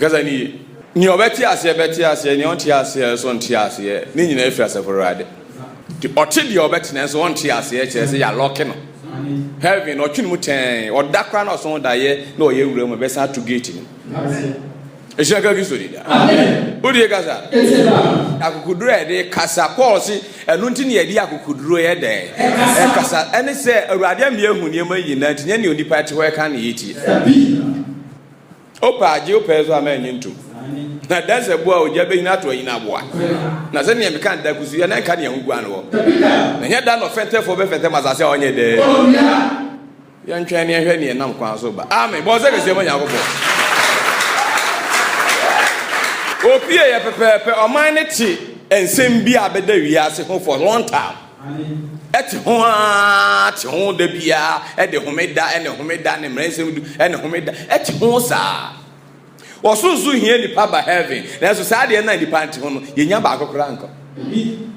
Kasa no yie. Nea ɔbɛte aseɛ bɛte aseɛ, nea ɔnte aseɛ nso nte aseɛ, ne nyinaa firi Asafo Awurade. Nti ɔte deɛ ɔbɛte nanso ɔnte aseɛ kyerɛ sɛ yɛalɔke no. Heaven no ɔtwe ne mu tɛɛn, ɔda koraa na ɔso daeɛ na ɔyɛ awura mu, ɛbɛsan ato gate no. Ɛhyira ka Kristo di da. Wodie kasa? Akokoduro a yɛde kasa, Paul se ɛno nti na yɛde akokoduro yɛ dɛn? Ɛkasa. Ɛne sɛ Awurade ama yɛahu nneɛma nyinaa nti nyɛ nea onipa te hɔ ɛka na yɛtie. Wopɛ a gye, wopɛ nso a ma nnye ntom. Na adanse boa ogya bɛnyini ato anyini aboa. Na sɛnea meka no da kusuyɛ na ɛnka nea ho guan wɔ. Na ɛnyɛ da na ɔfɛntɛfoɔ bɛfɛntɛm asase a ɔnyɛ dɛ. Yɛntwɛn na yɛnhwɛ nea ɛnam kwan so ba. Amen. Bɔ nsɛ kɛseɛ ma Onyankopɔn. Opie yɛ pɛpɛɛpɛ. Ɔman no te nsɛm bi a bɛda wiase ho for long time. te ho ara te ho da biara de homeda ne homeda ne mmara nsɛm du ne homeda te ho saa ɔsoro nso hia nipa ba heaven nanso saa deɛ na nipa nte ho no yɛnya baako koraa nkɔ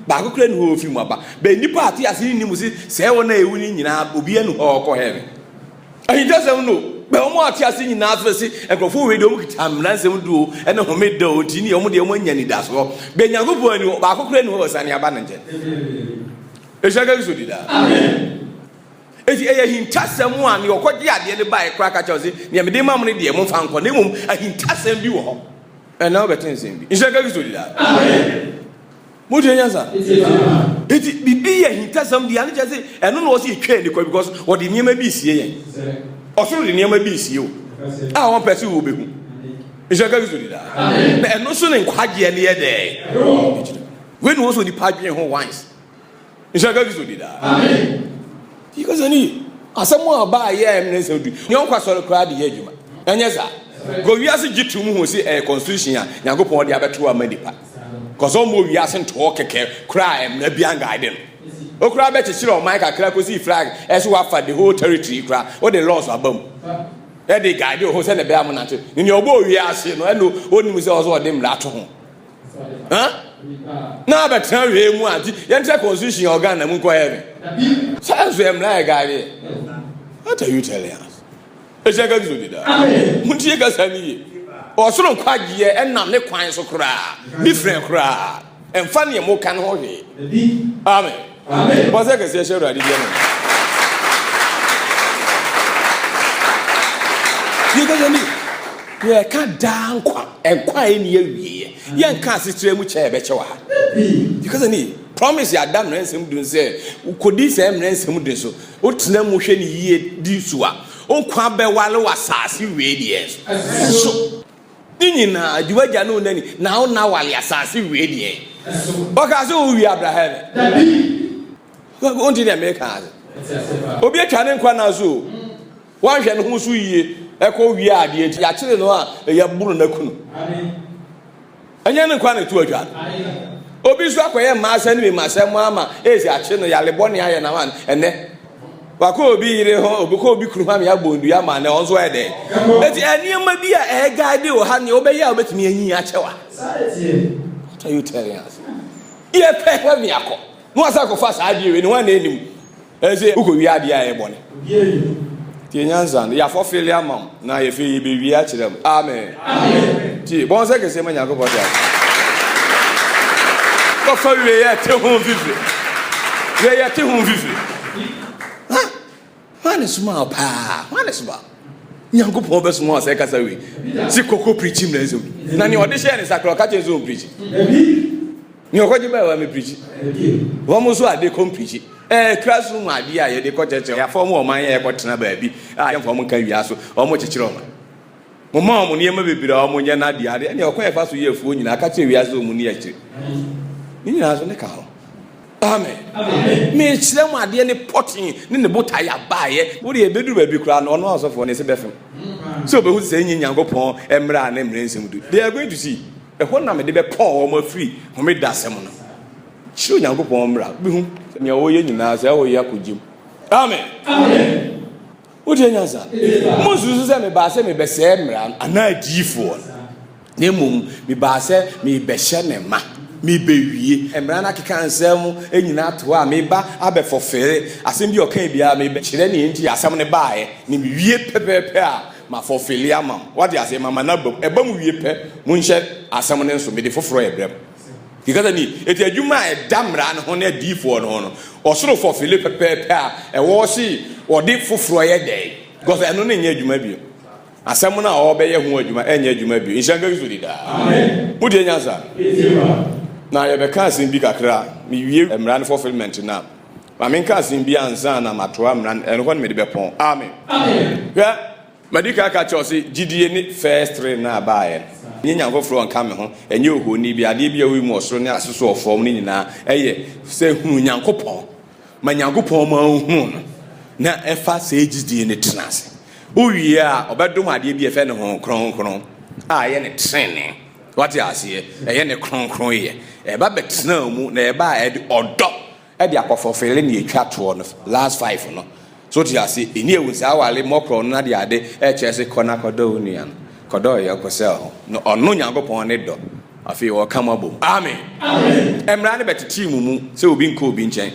baako koraa ni hɔ ofi mu aba bɛn nipa ate ase ne mu se sɛ wɔn a ewu ne nyinaa obi anu hɔ ɔkɔ heaven Ahintasɛm no bɛn wɔn a wɔte ase nyinaa so sɛ nkurɔfo wɔ hɔ yi deɛ wɔkita mmara nsɛm du o ne homeda o nti ne wɔn deɛ wɔanya anidasoɔ bɛn Nyankopɔn ani hɔ baako koraa ni hɔ a ɔsane aba ne nkyɛn ɛhyira nka Kristo di daa enti ɛyɛ ahintasɛm a ne ɔkɔgye adeɛ no baeɛ koraa ka kyerɛ wo se deɛ mede ma mo no deɛ momfa nkɔ na mmom ahintasɛm bi wɔ hɔ ɛna wobɛte nsɛm bi nhyira nka Kristo di daa Mo deɛ nyansa. Eti bibi yɛ hintasɛm deɛ ano kyerɛ sɛ ɛno na ɔsi etwa ani kɔ because ɔde nneɛma bi esie yɛn. Ɔsoro de nneɛma bi esie o. A wɔn pɛ sɛ wɔn bɛhu. Nhyɛ ka Kristo di daa. Na ɛno so ne nkwagyeɛ ne yɛ dɛ. Wei na wɔn so nipa adwene ho once. Nhyira ka Kristo di daa. Amen. Yi kasa ni ye. Asɛm a ɔbaa yɛ a ɛmene nsɛm du. Nea ɔnkɔ asɔre koraa de yɛ adwuma. Ɛnyɛ saa. Kɔ wiase gye to mu ho sɛ ɛyɛ constitution a Nyankopɔn de abɛto ama nipa. Kɔsɛ ɔmmɔ wiase ntoɔ kɛkɛ koraa a ɛmena bi angaade no. Okura bɛkyekyere ɔman kakra kɔsi flag ɛso wafa the whole territory koraa. Wode laws aba mu. Ɛde gaade ho sɛ na ɛbɛyɛ amonante. Ne nea ɔbɔ wiase no ɛna ɔnim sɛ ɔsɛ ɔde mmara to ho. na abɛtena wee mu a nti yɛnkyɛ constitution yɛ ɔgan na mu nkɔyɛ me saa nso yɛ mmara yɛ gaadeɛ what are you telling us ɛhyɛ ka kristo deda montie kasa no ye ɔsoro nkwagyeɛ ɛnam ne kwan so koraa different koraa ɛmfa neɛ moka no ho hwee amen Amen. Bɔ sɛ kɛseɛ hyɛ Awurade di amen. Yɛkasa ni, yɛka daa nkwa, nkwa a ɛni awieɛ. Yɛnka asekyerɛ mu kyɛ ɛbɛkyɛ wɔ ha. Yɛkasa ni, promise yɛada mmerɛ nsɛm dun sɛ wokɔdi sɛ mmerɛ nsɛm dun so, wotena mu hwɛ ne yie di so a, wo nkwa bɛwale wɔ asase wei deɛ so. Ne nyinaa, di w'agya ne wo nani, na wo na wale asase wie deɛ. Ɔkaa sɛ wowie abraha ne. Dabi. Wonte deɛ meka ase. Obi atwa ne nkwa na so o. Wanhwɛ ne ho so yie ɛkɔ wie adeɛ ti. Yɛakyere no a, yɛboro n'akunu. Amen. Ɛnyɛ ne nkwa na ɛto adwa no. Obi nso akɔyɛ mmaa asɛm ne me mma asɛm ama esi akye no yare bɔne ayɛ na wan ɛnɛ. Wakɔ obi yere ho, obi kɔ obi kunu ho ama yɛabɔ ndua ama na ɔno nso ayɛ dɛn. Eti nneɛma bi a ɛyɛ guide wɔ ha nea wobɛyɛ a wobɛtumi anyi akyɛ wa. What are you telling us? Yɛpɛ hɔ ne akɔ. Na wasa akɔfa saa adeɛ wei ne ho a na ɛnim. Ese wo kɔ wie adeɛ a ɛyɛ bɔne tie nyansa no yafɔ fele ama wo na yɛfɛ yɛ bɛ wie akyerɛ m amen tie bɔn sɛ kɛseɛ ma nyankopɔ te ase kɔfa wie yɛ te ho fifiri wie yɛ te ho fifiri ha ha ne suma wo paa ha ne suma nyankopɔn bɛ suma sɛ kasa wie si kɔkɔ pirikyi mmerɛ nsɛm na ne ɔde hyɛ ne sakorɔ ka kyɛ sɛ ɔmpirikyi ne ɔkɔgye baa wa mepirikyi wɔn nso ade kɔ mpirikyi ɛɛ classroom mu adeɛ a yɛde kɔ kyerɛkyerɛ yɛafa wɔn ɔman yɛ ɛkɔ tena baabi a yɛmfa wɔn nka wia so wɔn kyekyere wɔn mo ma wɔn nneɛma bebree a wɔn nyɛ n'adeɛ adeɛ ɛne ɔkwan ɛfa so yɛ afuo nyinaa aka kyerɛ wia sɛ wɔn ni akyire ne nyinaa so ne ka ho amen mekyerɛ mu adeɛ ne pɔten ne ne botaeɛ abaeɛ wode ɛbɛduru baabi koraa no ɔno asɔfoɔ ne sɛ bɛfem sɛ ɔbɛhu sɛ ɛnyi nyankopɔn mmerɛ a ne mmerɛ nsɛm du they are going to see Ɛhɔ na mede bɛpaw wɔn afiri Homeda asɛm no. Suro Nyankopɔn mmara. Wubehu sɛ nea wɔyɛ nyinaa, saa wɔyɛ akogyem. Amen! Wotie nyansa? Munsusu sɛ mebaa sɛ mebɛsɛe mmara no anaa adiyifoɔ no, na mmom mebaa sɛ merebɛhyɛ no ma. Merebewie mmara no akeka nsɛm nyinaa ato hɔ a mereba abɛfɔfere asɛm bi a ɔkae biara, merebɛkyerɛ nea enti a asɛm no baeɛ, na mewie pɛpɛɛpɛ a, Ma fɔfeli ama mo. Wate aseɛ? Ma ma no aba mu. Ɛba mu wie pɛ, monhyɛ asɛm no nso. Mede foforɔ rebrɛ mo. Ti kasa ni. Enti adwuma a ɛda mmara no ho ne adiyifoɔ no ho no, ɔsoro fɔfeli pɛpɛɛpɛ a ɛwɔ hɔ se wɔde foforɔ yɛ dɛn? Because ɛno no nyɛ adwuma bio. Asɛm no a wɔbɛyɛ ho adwuma ɛnyɛ adwuma bio. Nhyira nka Kristo di daa. Motie nyansa? Na yɛbɛka asɛm bi kakra, mewie mmara no fulfilment no a. Ma menka asen bi ansa na matoa mmra no, ɛno hɔ na mede bɛpɔn. Amen. Hwɛ, madi kan aka akyerɛ wo sɛ gyidie ne first ring no a ɛbaeɛ no, ɛnyɛ nyame foforɔ nka me ho, ɛnyɛ ohoni bi, adeɛ bi a woyi mu wɔ soro ne ase so wɔ fam no nyinaa, ɛyɛ sɛ hunu Nyankopɔn. Ma Nyankopɔn ma wohunu no, na ɛfa saa gyidie no tena ase. Wowie a, ɔbɛdom adeɛ bi a ɛfɛ ne Honhom Kronkron a ɛyɛ ne trenee. Wate aseɛ? Ɛyɛ ne kronkronyɛ. Ɛba bɛtena wo mu, na ɛba a ɛde ɔdɔ de akɔ fɔfele ne etwa toɔ no last five no so te ase ɛni ewu saa awale mɔkorɔ no ade ade ɛkyerɛ se kɔ na kɔdɔ wo nua no kɔdɔ ɔyɔnko sɛ ɔho no ɔno Nyankopɔn ne dɔ afei wɔka mo abom amen mmara no bɛtetee mo mu sɛ obi nkɔ obi nkyɛn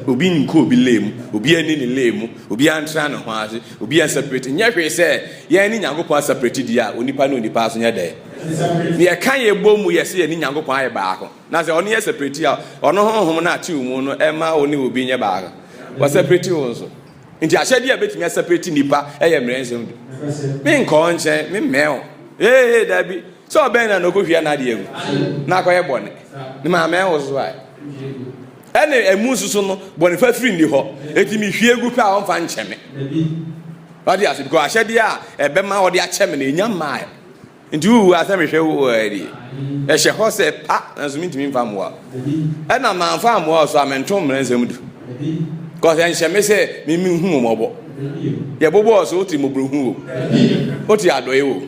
obi nkɔ obi lee mu obi ani ne lee mu obi antra ne ho ase obi ansapireti nyɛ hwee sɛ yɛn ne Nyankopɔn asapireti deɛ a onipa ne onipa aso nyɛ dɛ ne yɛka yɛ bɔ mu yɛ sɛ yɛne Nyankopɔn ayɛ baako Na sɛ ɔno yɛ separate a, ɔno honhom no a ɛte wo mu no ɛma wo ne obi nyɛ baako. Wɔ separate wo nso. Nti ahyɛdeɛ a ɛbɛtumi aseparate nipa ɛyɛ mmerɛ nsɛm du. Menkɔɔ nkyɛn, memmɛɛ wo. Hee hee daabi. Sɛ ɔbɛn na na ɔkɔhwia n'adeɛ agu na akɔyɛ bɔne. Ne maamɛɛ wo so ae. Ɛne ɛmu nso so no, bɔne fafiri nni hɔ. Enti mehwie gu pɛ a ɔmfa nkyɛ me. Wade ase, because ahyɛdeɛ a ɛbɛma ɔde akyɛ me no ɛnya mmaeɛ. Nti wo wura sɛ mehwɛ wo aa die ɛhyɛ hɔ sɛ pa nanso mentumi mfa mmoa ɛna manfa ammoa ɔso a mento mmrɛ nsɛm du cause ɛnhyɛ me sɛ mimi hu mmɔbɔ yɛbobɔ ɔso wote mmɔborɔhu wo wote adɔe wo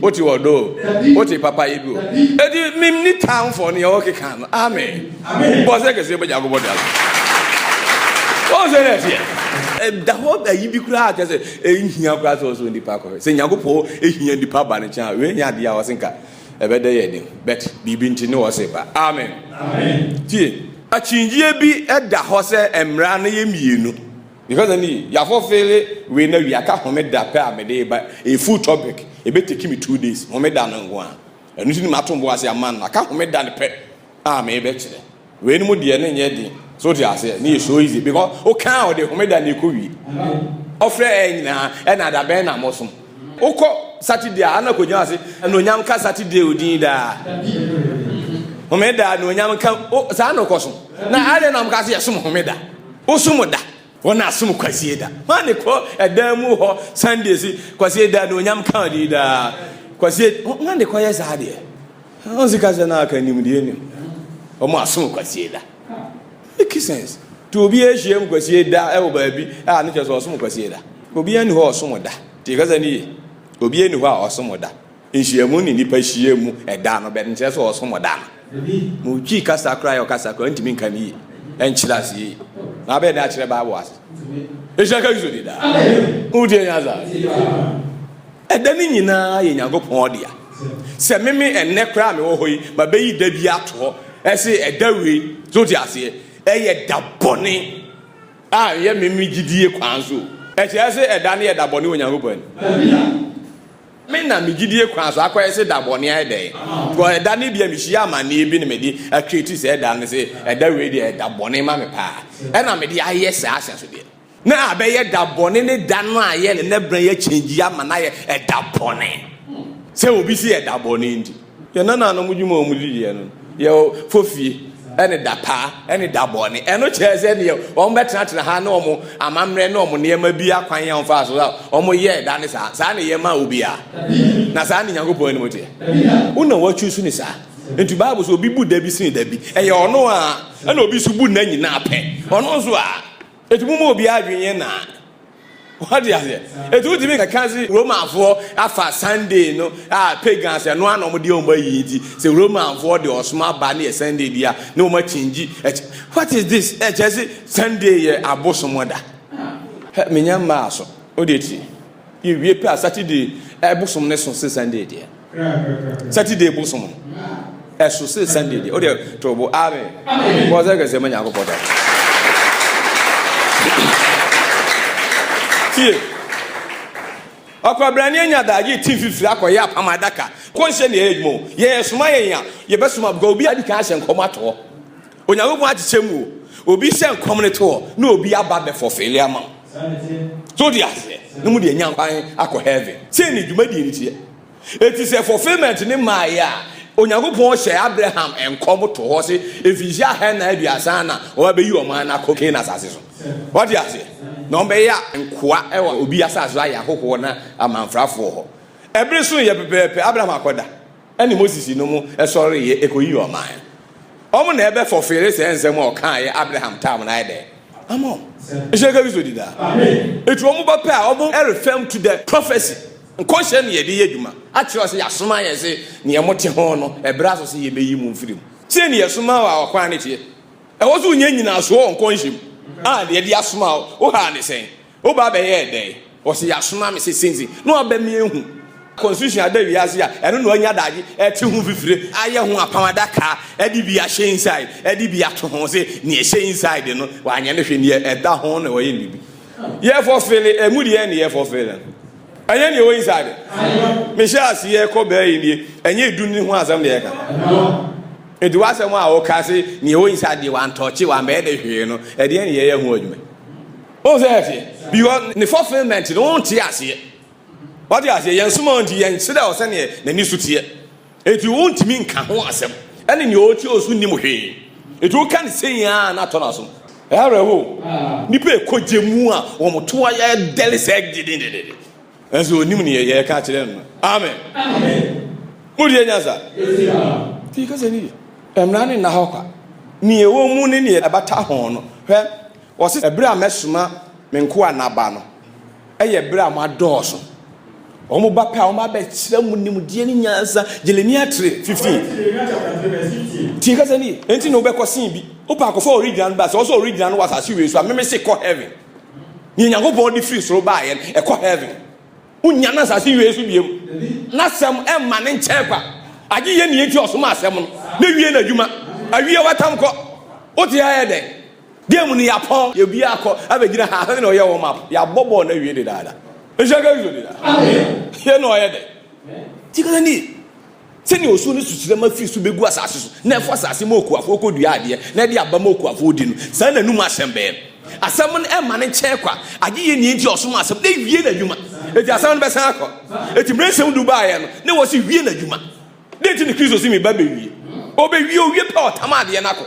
wote ɔdɔ wote papa yɛ bi wo ɛti memni tamfɔ no yɛwɔ keka no amen bɔ sɛ kɛseɛ bɛgya gobɔ de aso ɔnsɛ no ɛteɛ ɛda hɔ ayi bi koraa kyɛ sɛ Enhia koraa sɛ ɔsɔ nnipa kɔhwɛ. Sɛ Nyankopɔn hia nnipa ba ne kyɛn a, wei nyɛ adeɛ a ɔse nka ɛbɛdɛ yɛ den. But biribi nti ne ɔse ba. Amen. Amen. Tie, akyinnyegyeɛ bi da hɔ sɛ mmara no yɛ mmienu. Because ɛne yi, yɛafɔfele wei na wie, aka homeda pɛ a mede reba, ɛyɛ full topic, ɛbɛtake me two days, homeda no nko ara. Ɛno nti ne mato bo ase ama no, aka homeda no pɛ. a merebɛkyerɛ. Wei no mu deɛ ne nyɛ den. So te aseɛ ne yɛ so easy because wokaa ɔde homeda na ɛkɔ wie. Ɔfrɛ ɛyɛ nyinaa ɛna adabɛn na mosom. Wokɔ Saturday a ana kɔgyina ase anuonyam ka Saturday odin daa. Homeda anuonyam ka saa na ɔkɔ so. Na adɛn na moka sɛ yɛsom homeda. Wosom da. Wɔn na asom kwasie da. Wɔn ne kɔ ɛdan mu hɔ Sunday si kwasie da anuonyam ka odin daa. Kwasie wɔn ne kɔ yɛ saa deɛ. Ɔn sika sɛ na aka nimdeɛ nim. Ɔmo asom kwasie da. Make sense. To obi ahyiam kwasie da ɛwɔ baabi a ne kyɛ sɛ ɔsom kwasie da. Obi ani hɔ ɔsom da. Tie kasa no yie. Obi ani hɔ a ɔsom da. Nhyiamu ne nipa hyia mu ɛda no bɛt nkyerɛ sɛ ɔsom da no. Mo twi kasa koraa yɛ ɔkasa koraa ntumi nka ne yie. Ɛnkyerɛ ase yie. Na abɛɛ dɛ akyerɛ bible ase. Ehyira ka Kristo di daa. Mo tie nyansa. Ɛda no nyinaa yɛ Nyankopɔn dea. Sɛ meme ɛnnɛ koraa a mewɔ hɔ yi, mabɛyi da bi ato hɔ, ɛse ɛda wei, so wote aseɛ, ɛyɛ da bɔne a ɛyɛ meme gyidie kwan so. Ɛkyerɛ se ɛda no yɛ da bɔne wɔ Nyankopɔn anim. Me na me gyidie kwan so akɔyɛ se da bɔne ayɛ dɛn? Because ɛda no bia mehyia amaneɛ bi na mede atreati saa ɛda no se ɛda wei deɛ ɛda bɔne ma me paa, ɛna mede ayɛ saa ahyɛsodeɛ. Na abɛyɛ da bɔne ne da no a yɛ ne nɛ bena yɛ change ama no ayɛ ɛda bɔne sɛ obi se yɛ da bɔne nti yɛ nana nom dwuma a wɔn di yɛ no yɛ fofie ɛne da paa ɛne da bɔne ɛno kyerɛ sɛ neɛ wɔn bɛtenatena ha ne wɔn amammerɛ ne wɔn nneɛma bi akwan yɛ wɔn fa so a wɔn yɛ ɛda ne saa saa ne yɛ ma obi a na saa ne nyankopɔn anim teɛ wo na wɔatwi so ne saa nti baabu so obi bu da bi sene da bi ɛyɛ ɔno a ɛna obi so bu nna nyinaa pɛ ɔno nso a Eti mo mu obiara adwene yɛ naa. Wate aseɛ? Eti wotumi nkeka se Romanfoɔ afa Sunday no a pagans ɛno ara na wɔn de wɔn ayi nti sɛ Romanfoɔ de ɔsom aba ne yɛ Sunday bi a ne wɔn akyingyi ɛkyɛ. What is this? Ɛkyerɛ se Sunday yɛ abosom da. Hɛ menya mmaa so. Wodeɛ tie. Yewie pɛ a Saturday ɛbosom no so se Sunday deɛ. Saturday bosom no ɛso se Sunday deɛ. O deɛ tɔbo amen. Bɔ sɛ kɛse ma Nyankopɔn da. Tie. Ɔkwabrani anya da ye ti fifiri akɔyɛ apam adaka. Kɔnhyɛ ne ɛyɛ adwuma o. Yɛyɛ soma yɛn a yɛbɛsoma because obi adi kan ahyɛ nkɔm ato hɔ. Onyankopɔn akyekyɛ mu o, obi hyɛ nkɔm ne to hɔ na obi aba bɛ fɔfeele ama wo. So de aseɛ na mu de anya kwan akɔ heaven. Sei ne dwumadie no teɛ. Eti sɛ fulfilment ne maaeɛ a, Onyankopɔn hyɛ Abraham nkɔm to hɔ se mfinhyia ahannan aduasa na wɔba bɛyi ɔman no akɔ Canaan asase so. Wate aseɛ? Na wɔbɛyɛ nkoa wɔ obi asase so ayɛ ahɔhoɔ na amamfrafoɔ hɔ. Ɛbere soeɛ pɛpɛɛpɛ, Abraham akɔda. ne Moses nom sɔreeɛ kɔyii ɔman no. Wɔn na ɛbɛfɔfeele saa nsɛm a ɔkaaeɛ Abraham tam no ayɛ dɛ ama wɔn. Nhyira nka Kristo di daa. Ɛti wɔn ba pɛ a wɔn refirm to the prophecy, nkɔhyɛ no yɛde yɛ adwuma, akyerɛ sɛ yɛasoma yɛn se neɛ mote ho no ɛberɛ aso sɛ yɛbɛyi mo mfiri mu. Sei ne yɛsoma wo a ɔkwan no teɛ. Ɛwɔ sɛ wonya nyinasoɔ wɔ nkɔnhyɛ mu a deɛ yɛde asoma wo, wo ha ne sɛn? Wo ba bɛyɛɛ dɛn? Ɔse yasoma me se senzi na ɔbɛ me ehu. Constitution aba wiase a, ɛno na ɔanya daagye ɛte ho fifire, ayɛ ho apam adaka, ɛde bi ahyɛ inside, ɛde bi ato ho se nea ɛhyɛ inside no wanyɛ no hwee, nea ɛda ho na wayɛ no biribi. Yɛ fulfille ɛmu deɛ na yɛ fulfille no, ɛnyɛ nea ɛwɔ inside. Mehyɛ aseɛ kɔ bɛɛ yi nie, ɛnyɛ edu no ho asɛm na yɛka. Nti w'asɛm a woka se nea ɛwɔ inside deɛ wantɔɔkye, wambɛyɛ de hwee no, ɛdeɛn na yɛyɛ ho adwuma? Wohu sɛ ɛteɛ? Because ne fulfillment no wonte aseɛ. Wate aseɛ? Yɛn soma nti yɛn kyerɛ wɔ sɛdeɛ n'ani so teɛ. Eti wontumi nka ho asɛm. Ɛne nea ɔte ɔso nnim hwee. Eti woka ne sei a na atɔ no asom. Ɛyɛ awerɛhow. Nnipa a ɛkɔ gya mu a wɔn to ayɛ dɛre sɛɛ gyidigyidi. Nanso ɔnim nea yɛreka akyerɛ no no. Amen. Motie nyansa. Ti kasa ni yɛ. Mmara no nna hɔ kwa. Nea ɛwɔ mu ne nea ɛbata ho no. Hwɛ, Ɔse, Ɛberɛ a mɛsoma me nkoa naba no, ɛyɛ ɛberɛ a moadɔɔso. Wɔn ba pɛ a, wɔn abɛkyerɛ mo nimdeɛ ne nyansa. Jeremia tre. 15. Tie kasa ni, enti na wobɛkɔ sen bi. Wopɛ akɔfa original no ba, sɛ ɔsɔ original no wɔ asase wei so a, meme se kɔ heaven. Nea Nyankopɔn de firi soro baeɛ no, ɛkɔ heaven. Wonnya no asase wei so biam. N'asɛm ɛmma ne nkyɛn kwa. Agye yɛ nea enti ɔsoma asɛm no, na wie n'adwuma. Awie watam kɔ. Wote ha yɛ dɛn? Game no yɛapɔn. Yɛ biaa kɔ abɛgyina ha he na ɔyɛ warm up. Yɛabɔ bɔɔl no awie dedaada. Nhyira ka Yesu deda. Yei na ɔyɛ dɛ. Nti ka ni, Sɛnea osuo no sukyerɛma firi so bɛgu asase so, na ɛfɔ asase ma okuafoɔ kɔdua adeɛ, na ɛde aba ma okuafoɔ di no, saa na anum asɛm bɛyɛ. Asɛm no ɛmma no nkyɛe kwa, agye yɛ nea nti a ɔsoma asɛm no na wie n'adwuma. Enti asɛm no bɛsan akɔ. Enti mmerɛ nsɛm du baeɛ no, na ɛwɔ sɛ wie n'adwuma. Dɛn nti na Kristo si me ba bewie? Obewie owie pɛ ɔtam adeɛ no akɔ.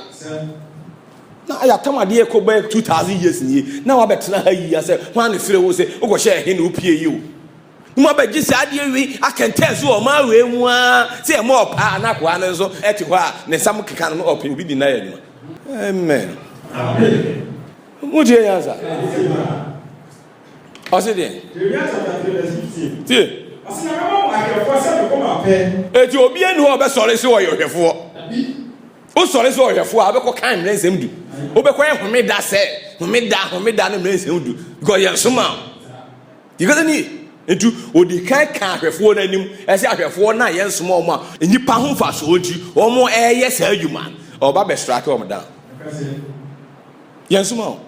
Na ayɛ atam adeɛ kɔ bɛyɛ two thousand years nie. Na wabɛtena ha yi asɛ hwan ne sere wo sɛ wokɔhyɛ ɛhe na wopie yi o. Na mo abɛgye saa adeɛ wei akɛntɛn so wɔ ɔman wei mu ara sɛ ɛmɔ ɔpaa na akoa no nso ɛte hɔ a ne nsam keka no ɔpɛ obi di n'ayɛ adwuma. Amen. Amen. Mo tie nyansa. Ɔse deɛ. Jeremia chapter three verse fifteen. Tie. Ɔse na mɛma mo ahwɛfoɔ sɛ me koma pɛ. Eti obia ni hɔ a ɔbɛsɔre sɛ ɔyɛ ɔhwɛfoɔ. Wosɔre sɛ ɔhwɛfoɔ a wobɛkɔ kan mmerɛ nsɛm du. Wobɛkɔ yɛ homeda sɛ homeda homeda ne mmerɛ nsɛm du. Because yɛn soma o. Yɛkasa ni ye. Nti odi kan ka ahwɛfoɔ no anim. Ɛsɛ ahwɛfoɔ no a yɛn soma wɔn a nnipa ho mfasoɔ nti wɔn ɛɛyɛ saa adwuma no ɔba bɛsrake wɔn down. Yɛn soma o.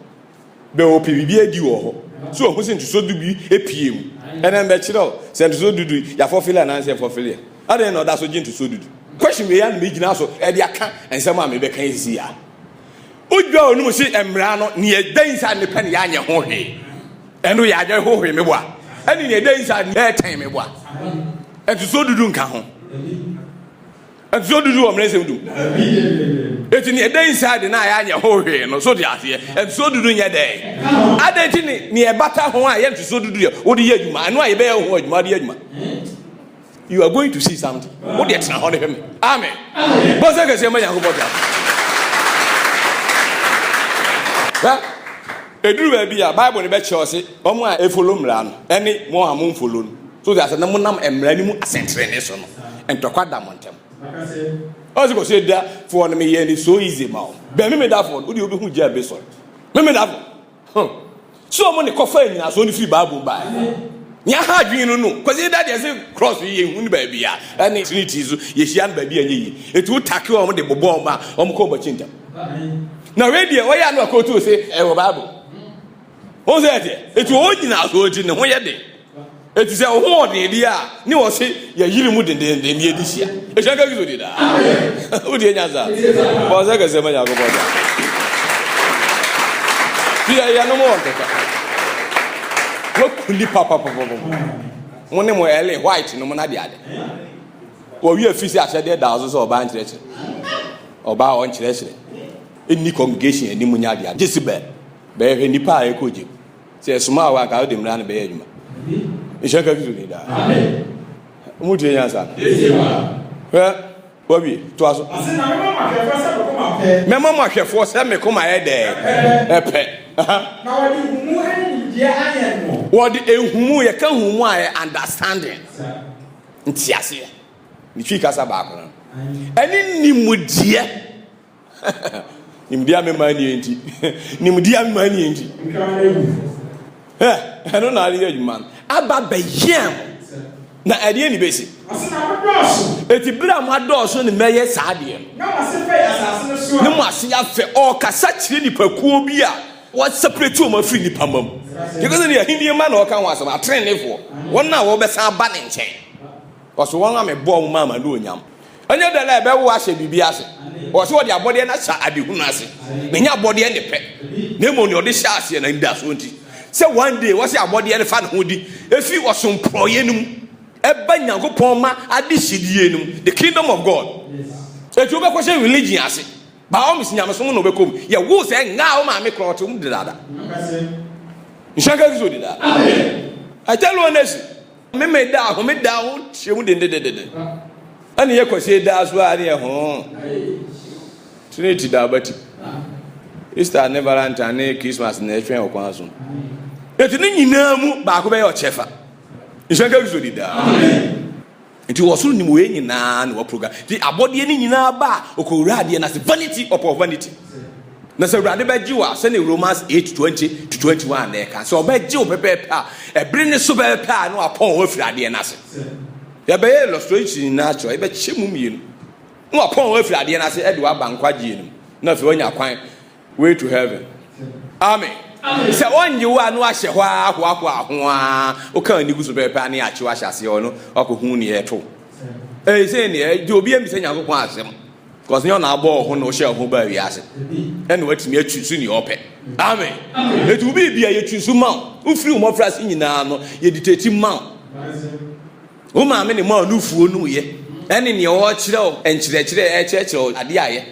Bɛ ɔpɛ biribi adi wɔ hɔ. So ohu sɛ ntoso du bi pue mu? Ɛnɛ mɛkyerɛ wo sɛ ntoso du du yɛafɔfele anaasɛ yɛmfɔfele ɛ. Adɛn na ɔda so gye ntoso du du? Question wei ara na mɛgyina so de aka nsɛm a mebɛka yi sisi a. Odwa a ɔnum se mmara no, nea ɛda yi saa ne pɛ na yɛanyɛ ho hwee. Ɛno yɛ adwene hohore me boa. Ɛne nea ɛda yi saa ne ɛtɛn me boa. Ntoso du du nka ho. ɛte sɛ ɔdudu wɔ mmerɛsɛm du ɛti neɛ ɛda inside de no a yɛanyɛ ho hwee no so te aseɛ ɛte sɛ ɔdudu nyɛ dɛn adɛn nti ne neɛ ɛbata ho a yɛnte sɛ ɔdudu yɛ wode yɛ adwuma ɛno a yɛbɛyɛ ho adwuma wode yɛ adwuma you are going to see something wode ɛtena hɔ ne hwɛ me amen bɔsɛ kɛseɛ ma nyankopɔn ta ɛduru baabi a bible no bɛkyerɛ ɔ se ɔmo a ɛfolo mmara no ɛne mo a momfolo no So ti ase na mo nam mmara no mu asɛntrenee so no, ntɔkwa da mo ntam. Ɔsi kɔ se da fɔ no me yɛ ni so easy ma o. Bɛ me me da fɔ no odi obi hu gya be sɔ. Me me da fɔ. Huh. So mo ne kɔ fa nyina so no firi Bible ba. Nya ha adwene no no. Kɔsi da deɛ se cross yɛ hu no baabi a ɛne trinity so yɛ hyia no baabi a nyɛ yi. Eti wo take wɔn de bobɔ wɔn a wɔn kɔ wɔn akyi ntam. Na wei deɛ ɔyɛ ano akɔ tu se ɛwɔ Bible. Wɔn sɛ ɛteɛ. Eti wɔn nyinasoɔ nti ne ho yɛ den. Eti sɛ ɔho ɔden deɛ a ne wɔse yɛyere mu dendenden ne yɛdi hyia. Ehyia nka Kristo di daa. Wotie nyansa. Bɔ sɛ kɛseɛ ma Nyankopɔn da. Fi yɛ yɛnom wɔ nkɛkɛ. Wɔkuli papapapapa. Mo ne mo Ellen White nom na de ade. Wɔwi afi sɛ ahyɛdeɛ da so sɛ ɔbaa nkyerɛkyerɛ. Ɔbaa ɔnkyerɛkyerɛ. Ɛnni congregation anim nya de ade. Jezebel. Bɛyɛ hwɛ nipa a ɛkɔ gyem. Sɛ ɛsoma wɔ anka wode mmra no bɛyɛ adwuma. Nhyɛ nka Kristo din daa. Ɔmo tie nyansa no. Hwɛ wawie toa so. Mɛma mo ahwɛfoɔ sɛ me koma yɛ dɛ ɛpɛ. Wɔde ehumu yɛka humu a yɛ understanding nteaseɛ ne twi kasa baako no ɛne nimudeɛ. Nimdeɛ a mema nie nti. Nimdeɛ a mema nie nti. Ɛno na ayɛ adwuma no. Aba bɛyɛ mo. Na ɛdeɛ ne bɛsi. Ɛti berɛ a mo adɔɔso ne mɛyɛ saa deɛ no. Ne mo ase afɛ. Ɔkasa kyerɛ nipakuo bi a wɔsɛprɛti wɔn afiri nipa ma mu. Yɛkɔ sɛ ne ahennie ma na ɔka ho asɛm. Atenenefoɔ. Wɔn a wɔbɛsan aba ne nkyɛn. Ɔso wɔn a mebɔɔ mo maa ma ne onyam. Ɛnyɛ dɛn na ɛbɛwo wo ahyɛ biribi ase. Wɔ sɛ wɔde abɔdeɛ no ahyɛ adehunu ase. Na ɛnyɛ abɔdeɛ ne pɛ. Na mmom deɛ ɔde hyɛ aseɛ na anidasoɔ nti. Sɛ one day wɔ sɛ abɔdeɛ no fa ne ho di. Ɛfiri ɔsom porɔeɛ no mu. Ɛba Nyankopɔn ma adehyedie no mu. The kingdom of God. Ɛti wobɛkɔ hyɛ religion ase. By all means nyamesom na wobɛkɔ mu. Yɛ wo sɛ ngaa wo maame korɔ ɔte mu dedaada. Nhyɛ nka Kristo dedaada. I tell you honestly. Memeneda a homeda ho hyɛ mu dendedendede. Ɛne yɛ kwasie daa so a ne yɛ ho. Trinity da abati. Easter ne Valentine ne Christmas na ɛtwɛn ɔkwan so. Eti ne nyinaa mu baako bɛyɛ ɔkyɛfa. Nhyɛ nka Kristo di daa. Nti wɔ soro nim wei nyinaa na wɔ program. Nti abɔdeɛ ne nyinaa ba a ɔkɔwura adeɛ no ase. Vanity upon vanity. Na sɛ Awurade bɛgye wo a, sɛdeɛ Romans eight twenty to twenty one na ɛka, sɛ ɔbɛgye wo pɛpɛɛpɛ a, ɛbere ne so pɛpɛpɛ a na wapɔn wo afiri adeɛ no ase. Yɛbɛyɛ illustration no akyerɛ, yɛbɛkyɛ mu mmienu. Na wapɔn wo afiri adeɛ no ase ɛde waba nkwagyeɛ no mu. Na afei wanya kwan way to heaven. Amen. Sɛ ɔnye wo a na wahyɛ hɔ a hoahoa ho a woka ani gu so pɛpɛpɛ a ne yɛakye wo ahyɛ aseɛ hɔ no wakɔhu neɛ ɛto. Ɛsɛ neɛ, deɛ obi ammisa Nyankopɔn asɛm. Because nyɛ ɔna abɔ ɔho na ɔhyɛ ɔho baa wiase ɛna watumi atwi so nea ɔpɛ. Amen. Eti wo biribi a yɛtwi so ma wo. Wofiri wo mmɔfra ase nyinaa no yɛditati ma wo. Wo maame ne maa no fuo no yɛ ɛne nea ɔkyerɛ wo nkyerɛkyerɛ ɛkyerɛkyerɛ wo adeɛ ayɛ.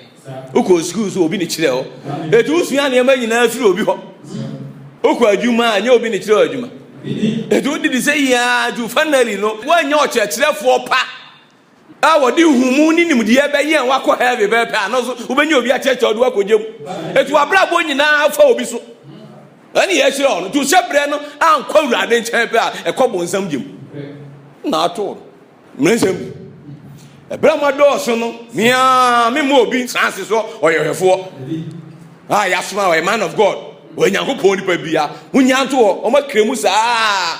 Wokɔ sukuu so obi ne kyerɛ wo. Eti wosua nneɛma nyinaa firi obi hɔ. Wokɔ adwuma a nyɛ obi ne kyerɛ wo adwuma. Eti wodidi sɛ yiaa ju finally no woanyɛ ɔkyerɛkyerɛfoɔ pa. a wɔde nhumu ne nimdeɛ bɛyɛ a wakɔ heaven pɛpɛ a no so wobɛnya obi akyerɛkyerɛ ɔde wakɔgya mu ɛti wabrabɔ nyinaa fa obi so ɛne yɛkyerɛ ɔno nti sɛ berɛ no ankɔ awurade nkyɛn pɛ a ɛkɔ bonsam gyem na ato no mmerɛnsɛm bi ɛberɛ ma dɔɔso no mea mema obi nsanse so ɔyɛhwɛfoɔ a yɛasoma ɔyɛ man of god ɔyɛ nyankopɔn nipa bia wonya nto hɔ ɔma krɛ mu saa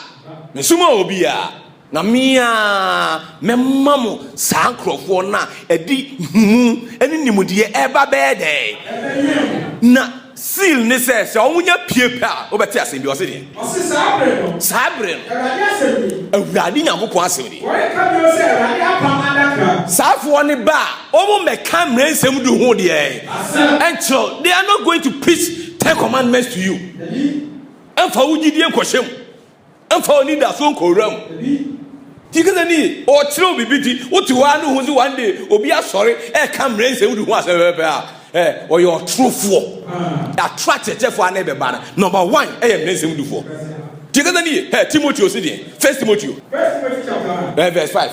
mesoma obi a Na me ara mɛma mo saa nkurɔfoɔ no a ɛde nhumu ne nimdeɛ reba bɛyɛ dɛn? Na seal ne sɛ, sɛ wɔnya pue pɛ a, wobɛte asɛm bi, ɔse deɛ. Ɔse saa bere no. Saa bere no. Awurade asɛm nie. Awurade Nyankopɔn asɛm nie. Wɔreka bio sɛ Awurade apam adaka. Saafoɔ no ba a, wɔmmɛka mmerɛ nsɛm du ho deɛ. Asɛm. Nkyerɛ, they are not going to preach ten commandments to you. Dabi. Ɛmfa wo gyidie nkɔhyɛ mu. Mfa anidaso nkɔ wuram. Ti kasa ni ɔkyerɛw biribi ti wote hɔ a ne ho sɛ one day obi asɔre ɛka mmerɛ nsɛm wode ho asɛm pɛpɛpɛ a ɛ ɔyɛ ɔtorofoɔ atoro akyerɛkyerɛfoɔ a na ɛbɛba no number one ɛyɛ mmerɛ nsɛm dufoɔ ti kasa ni ɛ Timoteo si deɛ first Timoteo ɛ verse five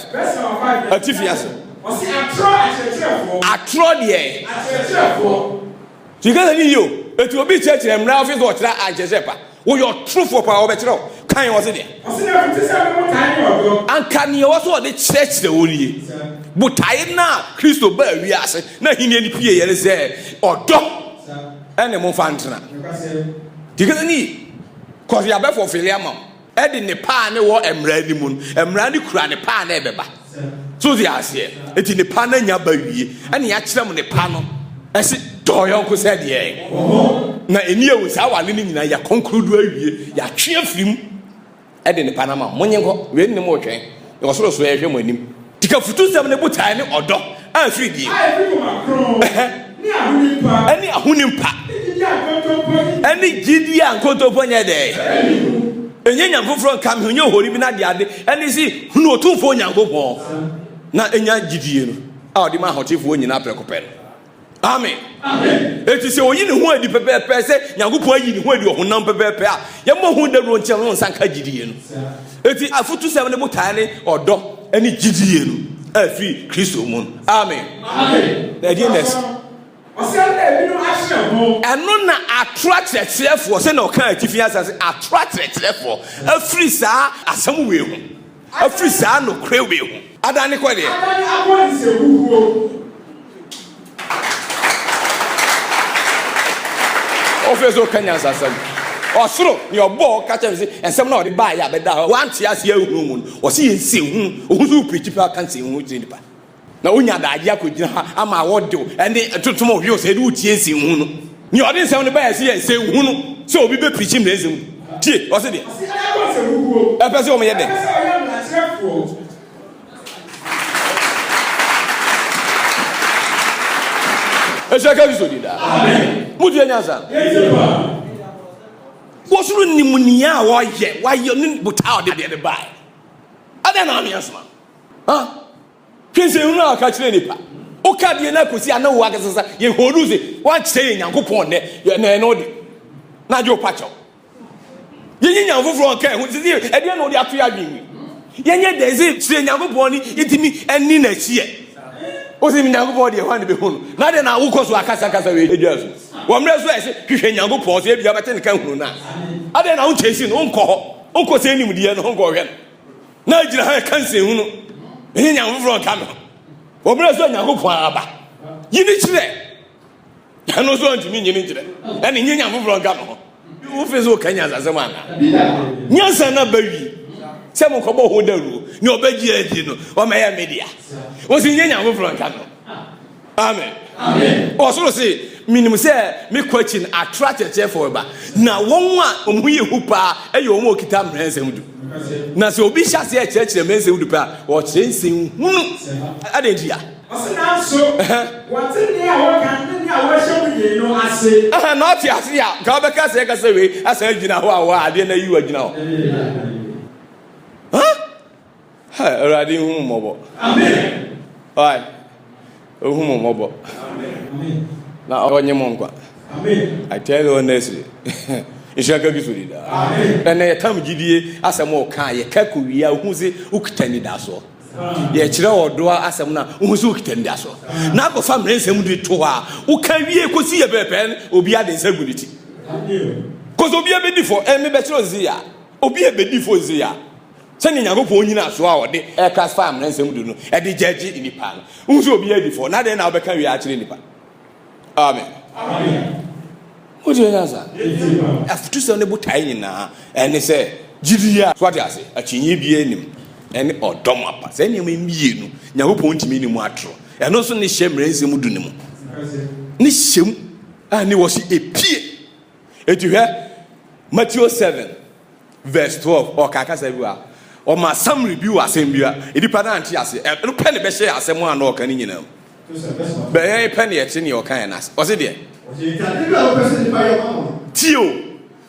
atifi ase atorɔ deɛ Tie kasa no yie o. Eti obi kyerɛkyerɛ mmra ɔse sɛ ɔkyerɛ a nkyerɛ sɛ ɛpa. Woyɛ ɔtorofoɔ paa ɔbɛkyerɛ wo kwan a ɔse deɛ. Ɔse na ɛfiti sɛ ne botae ne ɔdɔ. Anka nea ɔwɔ sɛ ɔde kyerɛkyerɛ wo nie. Botae no a Kristo baa wiase n'ahennie no pieeɛ ne sɛ ɔdɔ ɛne mo mfa ntena. Tie kasa no yie. Cause yɛabɛ fulfille ama wo. ɛde ne paa ne wɔ mmara no mu no mmara no kura ne paa na ɛbɛba so de aseɛ eti ne paa na nya ba wie ɛna yɛakyerɛ mu ne paa no ɛsi dɔɔ yɔnko sɛ deɛ na ɛni ewu saa wale no nyinaa yɛakɔnkoro do awie yɛatwe afiri mu ɛde ne paa no ama mo nye nkɔ wei ne mo retwɛn Yɛwɔ soro nso yɛhwɛ mo anim. Tika futusɛm ne botae ne ɔdɔ a ɛfiri die. A ɛfiri koma kronn ne ahonim pa. Ɛne ahonim pa. Ɛne gyidie a nkontompo nyɛ dɛn. Ɛnyɛ nyame foforɔ nka me ho nyɛ ohoni bi na de ade ɛne si hunu otumfoɔ Onyankopɔn na ɛnya gyidie no a ɔde ma ahotefoɔ nyinaa prɛko pɛ no. Amen. Eti sɛ oyi ne ho adi pɛpɛɛpɛ sɛ Nyankopɔn ayi ne ho adi ɔhonam pɛpɛɛpɛ a, yɛmmɔ ho dawuro nkyɛn no nsa nka gyidie no. Eti afotusɛm ne botae ne ɔdɔ ne gyidie no a ɛfiri Kristo mu no. Amen. Na ɛdeɛ na ɛsi. Ɛno na atoro akyerɛkyerɛfoɔ sɛ na ɔka atifi asase atoro akyerɛkyerɛfoɔ afiri saa asɛm wei ho. Afiri saa nokorɛ wei ho. Adane kɔ deɛ. Adane akɔ nsehuhuo mu. Wofiri so reka nyansasɛm. Ɔsoro deɛ ɔbɔɔ wo ka kyerɛ no se nsɛm no a wɔde baeɛ a bɛda hɔ a woante aseɛ anhunu mu no wɔse yɛ nsɛnhunu. Wohu sɛ worepreachi paa ka nsɛnhunu kyerɛ nnipa. Na wonya adagye akogyina ha ama awɔdew ne ntontom a ɔhwɛ sɛ yɛde wo tie nsi nhu no. Nea ɔde nsɛm no baeɛ sɛ yɛ nsɛ nhu no sɛ obi bɛ pirikyi mmrɛ nsɛm mu. Tie, ɔse deɛ. Ɔse na yɛbɔ nsɛ huhuo. Ɛpɛ sɛ wɔn yɛ dɛn? Ɛpɛ sɛ wɔyɛ mmarakyerɛfoɔ. Ɛhyɛ ka Kristo di da. Amen. Mo tie nyansa. Yɛtie pa. Wɔsoro nim nea wɔyɛ, wɔayɛ ne botaa ɔde deɛ de bae. Adɛn na ame asoma? Ha? Hwɛ nsɛnhunu a ɔka kyerɛ nipa. Woka deɛ no akɔsi a na wo akasa sa yɛhɔdu se woakyerɛ yɛ Nyankopɔn nnɛ ɛnɛ ɛno de na agye wopa kyɛw. Yɛnyɛ nyame foforɔ nka ɛho sisi ɛdeɛ na wode ato yɛ adwene yɛnyɛ dɛn sɛ kyerɛ Nyankopɔn ne yɛtumi ɛne n'akyiɛ wosi Nyankopɔn deɛ hɔ a ne bɛhu no na deɛ na wokɔ so akasakasa wei adwa so wɔ mmerɛ so a ɛsɛ hwehwɛ Nyankopɔn sɛ ebia bɛte ne ka hunu no a adeɛ na wokyɛ si no wonkɔ hɔ wonkɔ sɛ nimdeɛ no wonkɔ hwɛ no na agyina ha ɛka nsɛnhunu ɛnyɛ nyame foforɔ nka me ho wɔ berɛ sɛ onyankopɔn aba yi ne kyerɛ ɛno nso ɔntumi nyini kyerɛ ɛne nyɛ nyame foforɔ nka me ho wofe sɛ woka nyansasɛm ana nyansa no aba wi sɛ mokɔbɔ ho dawuro ne ɔbɛgye adi no ɔmɛyɛ media wo sɛ nyɛ nyame foforɔ nka me ho amen ɔsoro se menim sɛ mekɔ akyi no atorɔ akyerɛkyerɛfoɔ bɛba na wɔn a wɔn ho yɛ hu paa ɛyɛ wɔn a wɔkita mmerɛ nsɛm du na sɛ obi hyɛ aseɛ kyerɛkyerɛ mmerɛ nsɛm du pɛ a ɔkyerɛ nsɛm hunu adɛn nti a ɔse nanso wɔte nea wɔka ne nea wɔhyɛ mu yie no ase na ɔte ase a ka wobɛka sɛ ɛka sɛ wei asan agyina hɔ a wɔ adeɛ no ayi wagyina hɔ Hi, Awurade nhu mo mmɔbɔ. Hi, ohu mo mmɔbɔ. Na ɔnye mo nkwa. I tell you honestly. Nhyira ka bi so dida. Ɛnna yɛtam gyidie asɛm a ɔka yɛ ka kɔ wie a wohu se wokita nidasoɔ. Yɛkyerɛ ɔdɔ asɛm no a wohu se wokita nidasoɔ. Na akɔfa mmerɛ nsɛm de to hɔ a woka wie kɔsi yɛ pɛpɛn obi ade nsa gu ne ti. Kɔsɛ obi abɛdi fɔ ɛmebɛkyerɛ ɔnsi yɛ a obi abɛdi fɔ nsi yɛ a Sɛnea Nyankopɔn nnyinaso a ɔde ɛkra faa mmara nsɛm du no de gyagye nnipa no, wohu sɛ obiara di fɔ, na dɛn na wobɛka wie akyerɛ nnipa? Amen. Wotie nyansa? Afutusɛm ne botae nyinaa ɛne sɛ gyidi a, so ate ase, akyinnye biara nnim, ɛne ɔdɔ ma pa. Saa nneɛma yi mmienu, Nyankopɔn ntumi nni mu atoro. Ɛno nso ne hyɛ mmara nsɛm du no mu. Ne hyɛ mu a ne wɔ se epie. Enti hwɛ Mateo seven verse twelve, ɔkaa kasa bi wɔ ha, ɔmaa summary bi wɔ asɛm bi a nnipa no ante aseɛ, ɛno pɛ ne bɛhyɛɛ asɛm a na ɔka no nyinaa mu. Bɛ yɛn pɛ ne yɛte nea ɔkaeɛ no ase. Ɔse deɛ. Tie o,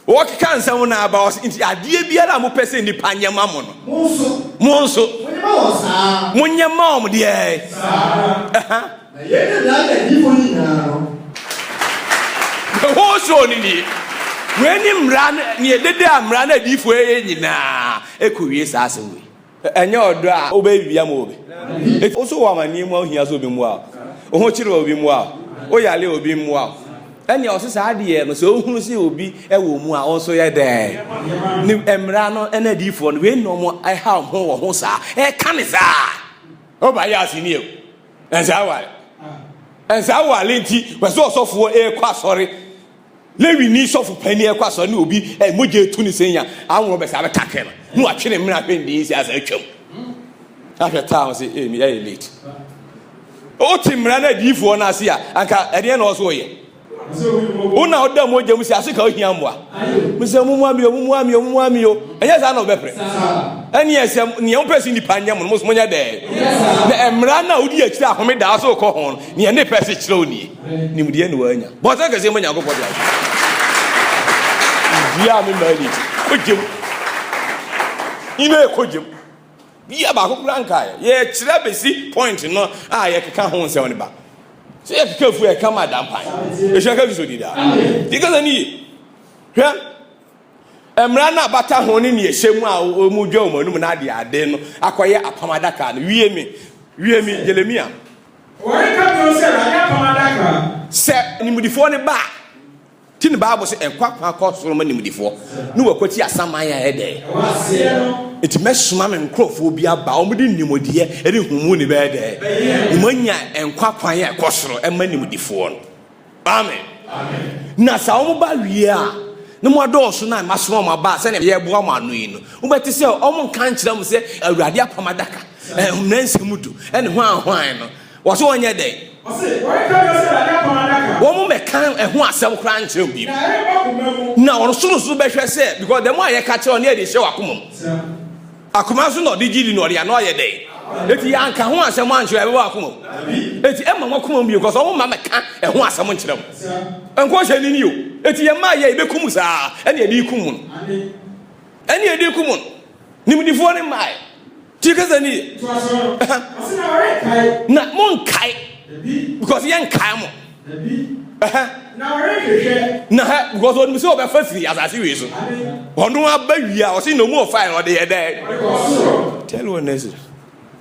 wɔkeka nsɛm no aba, ɔse nti adeɛ biara a mopɛ sɛ nnipa nyɛ ma mo no, mo nso monyɛ ma wɔn deɛ. Ɛha. Na yei na daa yɛ adiyifoɔ nyinaa no. The whole show no nie. Wei ne mmara no, neɛ dede a mmara no adiyifoɔ yɛyɛ nyinaa ɛkɔ wie saa asɛm wei. Ɛnyɛ ɔdɔ a wobɛyɛ biribi ama obi. Enti wo so wɔ amaneɛ mu a wohia sɛ obi mmoa wo, wo ho kyere a obi mmoa wo, wo yare a obi mmoa wo, ɛnneɛ ɔse saa adeɛ no sɛ wohunu sɛ obi wɔ mu a wo nso yɛ dɛn? Ne mmara no ne adiyifoɔ no wei na wɔn ɛha wɔn ho wɔ ho saa, ɛka ne saa. Woba yɛ asenni o. ɛnsɛ aware ɛnsɛ aware nti wɔsɛ ɔsɔfoɔ ɛrekɔ asɔre lewini sɔfo panyin ɛrekɔ asɔre ne obi ɛ mogya etu ne senya aworɔ bɛsɛ abɛtakɛ no ne watwe ne mmerɛ ahwɛ ndee si asa atwam ahwɛ taa wɔn sɛ ɛmi ɛyɛ late wote mmerɛ no adiyifoɔ no ase a anka ɛdeɛ na ɔso ɔyɛ wo na ɔda mogya mu sɛ ase ka ohia mmoa me sɛ mumua mi o mumua mi o mumua mi o ɛnyɛ saa na ɔbɛpere ɛneɛ sɛ neɛ wopɛ sɛ nnipa nyɛ mo no mos monyɛ dɛɛ na ɛmmara no a wodi akyiri a home daa so wokɔ ho no neɛ ne pɛ se kyerɛ wo nie nimdeɛ ne waanya bɔnsɛ kɛseɛ ma nyankopɔn de awo dua me maa ni wogyem ime ɛkɔ gyem Bia baako koraa nkaeɛ. Yɛkyerɛ bɛsi point no a yɛkeka ho nsɛm no ba. Sɛ yɛkeka fu ɛka ma da mpan. Ɛhyɛ ka Kristo di daa. Di kasa no yie. Hwɛ mmara no a bata ho ne neɛ hyɛ mu a wɔmu dwa wɔn anum no ade ade no akɔyɛ apam adaka no. Wie me. Wie me. Jeremia. Wɔreka bio sɛ Awurade apam adaka. Sɛ animdifoɔ no ba a. Ti no Bible sɛ nkwa kwan kɔ soro ma nimdefoɔ ne wɔkwati asaman a ɛdɛ. Nti mɛsoma me nkurɔfoɔ bi aba wɔn de nimdeɛ ne nhumu ne bɛyɛ dɛ. Wɔn anya nkwa kwan a ɛkɔ soro ɛma nimdefoɔ no. Amen. Na sɛ wɔn ba wie a na wɔn adɔɔso na masoma wɔn aba sɛnea yɛ boa wɔn ano yi no. Wobɛte sɛ wɔn nka nkyerɛ wɔn sɛ awurade apam adaka, ɛhom na nsɛm du, ɛne hwan hwan no. Wɔse wɔnyɛ dɛn? Wɔse wɔreka bio sɛ Dade Apam Adaka. Wɔmmɛka ɛho asɛm koraa nkyerɛ obiara. Na ɛremma koma mu. Na wɔn nso nso bɛhwɛ sɛ because dɛm a yɛka kyerɛ wɔn no yɛ de hyɛ wɔn akoma mu. Sɛm. Akoma nso na ɔde gye di na ɔde ano ayɛ dɛn? Eti yɛanka ho asɛm ankyerɛ ɛbɛba wɔn akoma mu. Dabi. Eti ɛmma wɔn akoma mu bio because wɔn mma mɛka ɛho asɛm nkyerɛ wɔn. Sɛm. Nkɔnhyɛ ni ni o. Eti yɛn mma yɛ yɛbɛkum saa ɛne yɛde rekum wɔn. Ane. Ɛne yɛde rekum wɔn. Nimdifoɔ no mmaeɛ. tie kasa ni yɛ na mo nkae because yɛ nkae mo na ha because ɔnim sɛ ɔbɛfa firi asase wei so ɔno aba wie a ɔse na ɔmu ɔfae na ɔde yɛ dɛ tell one next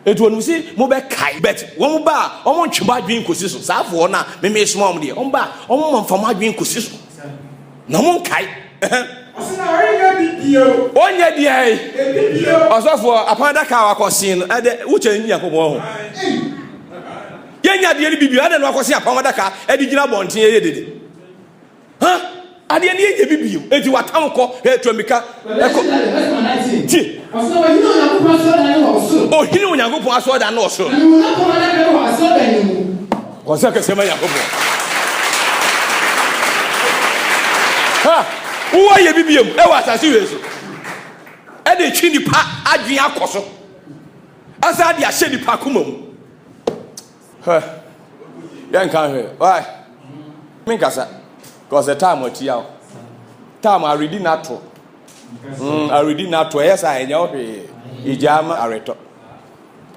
ɛti ɔnim sɛ mobɛkae but wɔn ba a wɔn ntwe mo adwene nkɔsi so saa foɔ no a memesoma wɔn deɛ wɔn ba a wɔn ma mfa mo adwene nkɔsi so Na ɔmo nkae. Ɔsi na ɔrenyɛ bi bio. Ɔnyɛ bi ayi. Ebi bio. Ɔsɔfoɔ apɔn adaka a wakɔsen no ɛdɛ wokyɛ Nyankopɔn ho. Yɛnya adeɛ no bi bio adɛ na wakɔsen apɔn adaka ɛde gyina abɔnten ɛyɛ dede. Ha adeɛ no yɛnya bi bio eti watam kɔ hwɛ tuamika ɛkɔ. Ti. Ohini Onyankopɔn asɔrdan no wɔ soro. Ɔsɛ kɛseɛ ma Nyankopɔn. Ha! Wowɔ yɛ bibiam ɛwɔ asase wei so. Ɛde twe nipa adwene akɔ so. Asa de ahyɛ nipa akoma mu. Ha! Yɛ nka hwɛ. Why? Me nkasa. Cause the time atia o. Time already nato. Mm, already nato. Ɛyɛ saa ɛnyɛ hwee. Egya ama aretɔ.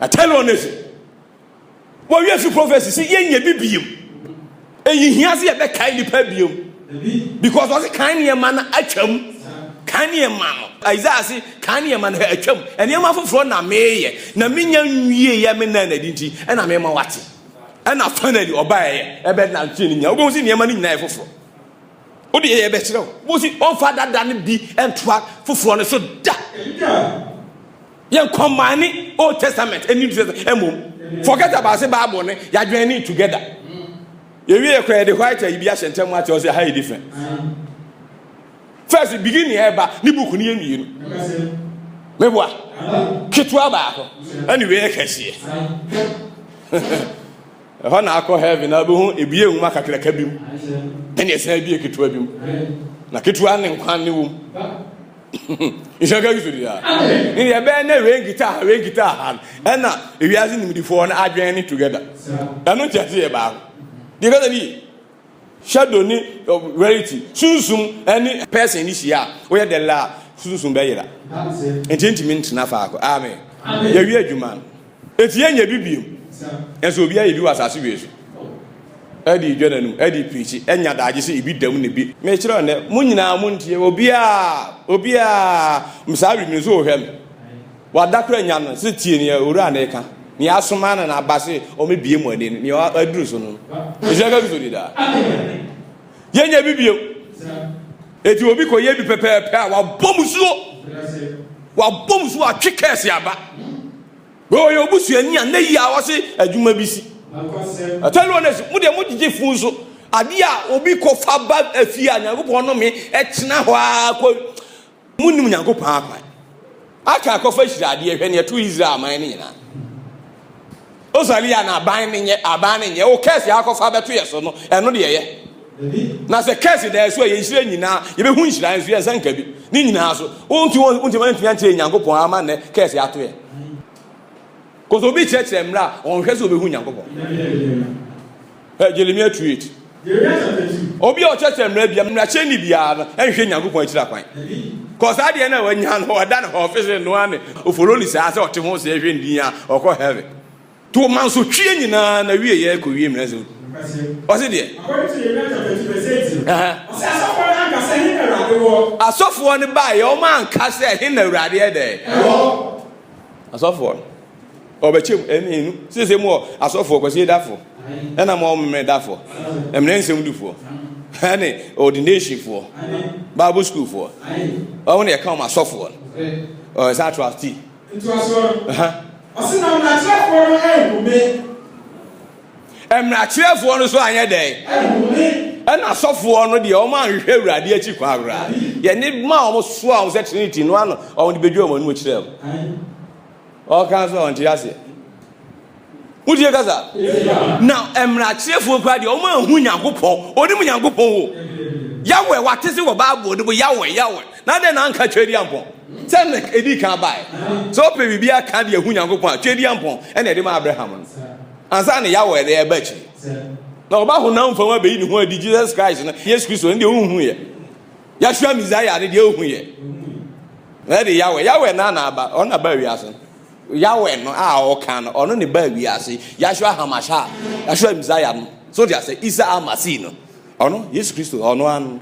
I tell you honestly. Wɔ wiɛ fi prophecy si yɛ nyɛ bi biem. Eyi hia se yɛ bɛ kae nipa biem. Because ɔse kan nneɛma no atwam. Kan nneɛma no. Isaiah se kan nneɛma no atwam. Nneɛma foforɔ na meyɛ. Na menya nwie yɛ me nan adi nti. Ɛna mema wate. Ɛna finally ɔbaeɛ. Ɛbɛ na nkyerɛ no nyinaa. Wobɛhu se nneɛma no nyinaa yɛ foforɔ. Wode yɛ bɛ kyerɛ wo. Wobɛhu se ɔmfa dada no bi ntoa foforɔ no so da. Yɛn combine Old Testament and New Testament ɛmom. Forget about say Bible ne yadwene ne together. Yɛwie yɛ kora yɛde white ayi bi ahyɛ ntɛm ate ɔsɛ ha yɛ different. First begin yɛ ɛba ne book ne yɛ mmienu. Meboa ketewa baako ɛne wei yɛ kɛseɛ. Ɛhɔ na akɔ heaven na abɛhu ebie nwoma kakraka bi mu ɛne ɛsan ebie ketewa bi mu na ketewa ne nkwa ne wom nhyɛ ka kristo dira ne deɛ ɛbɛyɛ na wei nkita ha wei nkita ha no ɛna ewiase nimdifoɔ no adwene ne together ɛno nkyɛ te yɛ baako deɛ kasa bi Shadow ne Rarity sunsum ne person ne hyia a, woyɛ dɛ la a, sunsum bɛyera. Nti yɛntumi ntena faako. Amen. Yɛawie adwuma no. Nti yɛnyɛ bi biom. Nso obi ayɛ bi wɔ asase wei so. Ɛde dwa n'anum, ɛde pirikyi, ɛnya daagye sɛ ebi dam ne bi. Mekyerɛ nnɛ, mo nyinaa montie, obiara, obiara, saa wimiri nso wohwɛ me. Wɔadakora nya no sɛ tie nea owura no reka, nea asoma no na aba sɛ ɔmmɛbue mo ani no, nea aduru so no. Nhyira nka Kristo di daa. Yɛnyɛ bi bio. Eti obi kɔyɛ bi pɛpɛɛpɛ a, wabɔ mu suo. Wabɔ mu suo, watwe kɛɛse aba. Wei ɔyɛ obusuani a na yi a ɔse adwuma bi si. Ɛtɔ no ɔnɛsi, mo deɛ mo gyegye fun nso. Adeɛ a obi kɔfa ba afie a Nyankopɔn nome ɛtena hɔ ara kɔ Munnim Nyankopɔn akwan. Akan kɔfa hyira adeɛ hwɛ neɛ ɛto Israel aman no nyinaa. Osalia na aban no nyɛ aban no nyɛ o kɛse akɔfa bɛto yɛ so no ɛno deɛ yɛ. Na sɛ kɛse da so a yɛn hyira nyinaa yɛbɛhu nhyira nso yɛn nsa nka bi ne nyinaa so. Wonti wonti wantumi antie Nyankopɔn ama nnɛ kɛse ato yɛ. Kɔsɛ obi kyerɛkyerɛ mmerɛ a ɔnhwɛ sɛ obehu Nyankopɔn. Hwɛ Jeremia tweet. Obi a ɔkyerɛ sɛ mmara bia mmarahyɛni biara no nhwɛ Nyankopɔn akyiri akwan. Kɔ saa deɛ no a wanya no ɔda no hɔ ɔfese no a ne ofolo ni saa sɛ ɔte ho sɛ ɛhwɛ ndin a ɔkɔ heaven. To mansotwie nyinaa na wie yɛ kɔ wie mmara nsɛm du. Ɔse deɛ. Asɔfoɔ no baeɛ ɔma anka sɛ ɛhe na awurade ɛdɛ. Asɔfoɔ no. Ɔbɛkyɛ mu ɛne enu. Sese mu wɔ asɔfoɔ kwasie dafoɔ ɛna mu ɔmemɛ dafoɔ ɛmene nsɛm dufoɔ ɛne ordination foɔ bible school foɔ ɔmo na ɛka ɔmo asɔfoɔ no ɔyɛ saa trustee. Ntoasoɔ no, ɔse na mmrakyerɛfoɔ no anhu me. Mmrakyerɛfoɔ no so anyɛ dɛn? Anhu me. Ɛna asɔfoɔ no deɛ ɔmo anhwehwɛ awurade akyi kwan koraa. Yɛne ma ɔmo soa ɔmo sɛ trinity no ano ɔmo de bɛdwa ɔmo anim kyerɛ ɔmo. Ɔka nso a ɔnte aseɛ. Wotie kasa? Na mmarakyerɛfoɔ kura deɛ wɔn ahu Nyankopɔn, onim Nyankopɔn wo. Yawɛ wate se wɔ Bible de bo yawɛ yawɛ. Na dɛn na anka twɛdi ampɔn? Sɛ na edi kan bae. Sɛ ɔpɛ biribi aka de ahu Nyankopɔn a twɛdi ampɔn ɛna ɛde ma Abraham no. Ansa na yawɛ de ɛba akyi. Na ɔba honam fam abɛyi ne ho adi Jesus Christ no, Yesu Kristo no deɛ ɔnhu yɛ. Yɛahwɛ Messiah no deɛ ohu yɛ. Ɛde Yahweh. Yahweh na na aba. Ɔno na ba wiase. Yahweh no a ɔka no, ɔno ne ba wiase. Yahweh Hamasha. Yahweh Messiah no. So de asɛ Isa Amasi no. Ɔno Yesu Kristo ɔno ano.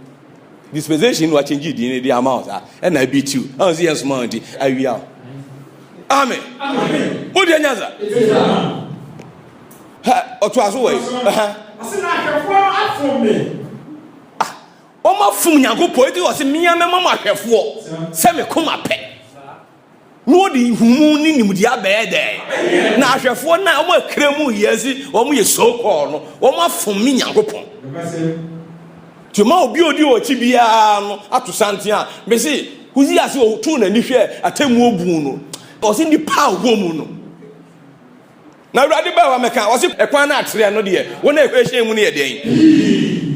Dispensation no akyɛngye din no de ama wo saa. Ɛna ebi tiw. Ɛna sɛ yɛn soma nti awia wo. Amen. Amen. Mo deɛ nyansa. Ha ɔto aso wɔ yi. Ɔsɛ na ahwɛfoɔ no afom me. Wɔafom Nyankopɔn, enti ɔse, Me ara mɛma mo ahwɛfoɔ sɛ me koma pɛ, na wɔde nhumu ne nimdeɛ abɛyɛ dɛn? Na ahwɛfoɔ no a wɔakra mu yɛ se wɔn yɛ so called no, wɔafom me Nyankopɔn. Nti ma obi a odi wɔn akyi biara no ato santen a, mese, Hosea ase ɔtoo n'ani hwɛɛ atemmuo buu no, ɔse, Nnipa a wɔwɔ mu no. Na Awurade baa hɔ mɛka, ɔse ɛkwan no atrɛ no deɛ wɔn a ɛhyɛn mu no yɛ dɛn?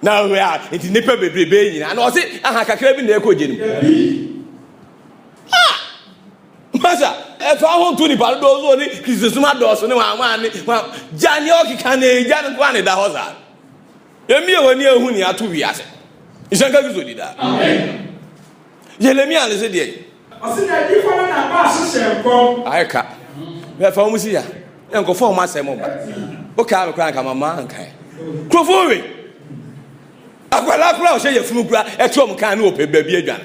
Na ɔhwɛ a nti nnipa bebrebe nyinaa na ɔse aha kakra bi na ɛkɔ gye no ha masa ɛfa ho to nipa dodoɔ so ne kristosom adɔɔso ne wɔn wɔn ne wɔn gya ne ɔkeka na egya no nko a na ɛda hɔ saa yɛmie wɔn ani ehu ne ato wiase nhyɛnka kristo di daa yɛlɛmi ase deɛ. Ɔsi na edi kɔ no na ba ahyehyɛ nkɔm. Ayɛ ka. Bɛ fa wɔn si ya. Yɛ nkɔfɔ wɔn asɛm mo ba. O kaa mi kura nka ma ma nka yɛ. Kurofo we. Akwala kura ɔhyɛ yɛ funu kura ɛtu wɔn kan ne ɔpɛ baabi adwan.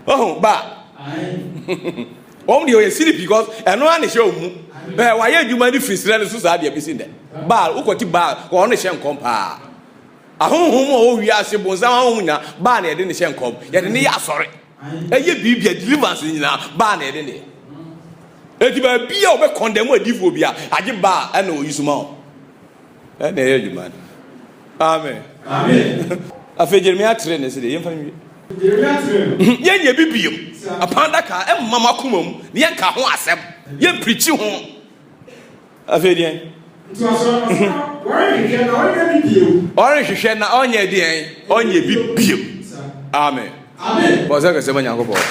Ɔho ba. Wɔn deɛ ɔyɛ siri because ɛno ara ne hyɛ wɔn mu. Bɛ wɔayɛ adwuma ne firi srɛ ne so saa deɛ besi ndɛ. Baal wokɔti baal wɔn ne hyɛ nkɔm paa. Ahonhom a ɔwɔ wiase bonsam ahonhom nyinaa baa na yɛde ne hyɛ nkɔm. Yɛde ne yɛ asɔre. Ɛyɛ biribi a deliverance nyinaa baa na yɛde ne yɛ. Eti baabi a ɔbɛ kɔndɛm adiifoɔ bi a agye baa ɛna ɔyi suma wɔn. Ɛna ɛyɛ adwuma no. Amen. Amen. Afei Jeremia tere ne se deɛ yɛmfa nwie. Jeremia tere no. Mhm. Yɛnyɛ bi biom. Apam adaka ɛmma m'akoma mu na yɛnka ho asɛm. Yɛmpirikyi ho. Afei deɛn? Ntoasoɔ no sɛ, Ɔrenhwehwɛ na ɔnyɛ bi bio. Ɔrenhwehwɛ na ɔnyɛ deɛn? Ɔnyɛ bi bio. Amen. Bɔ sɛ kɛsɛ ma Nyankopɔn.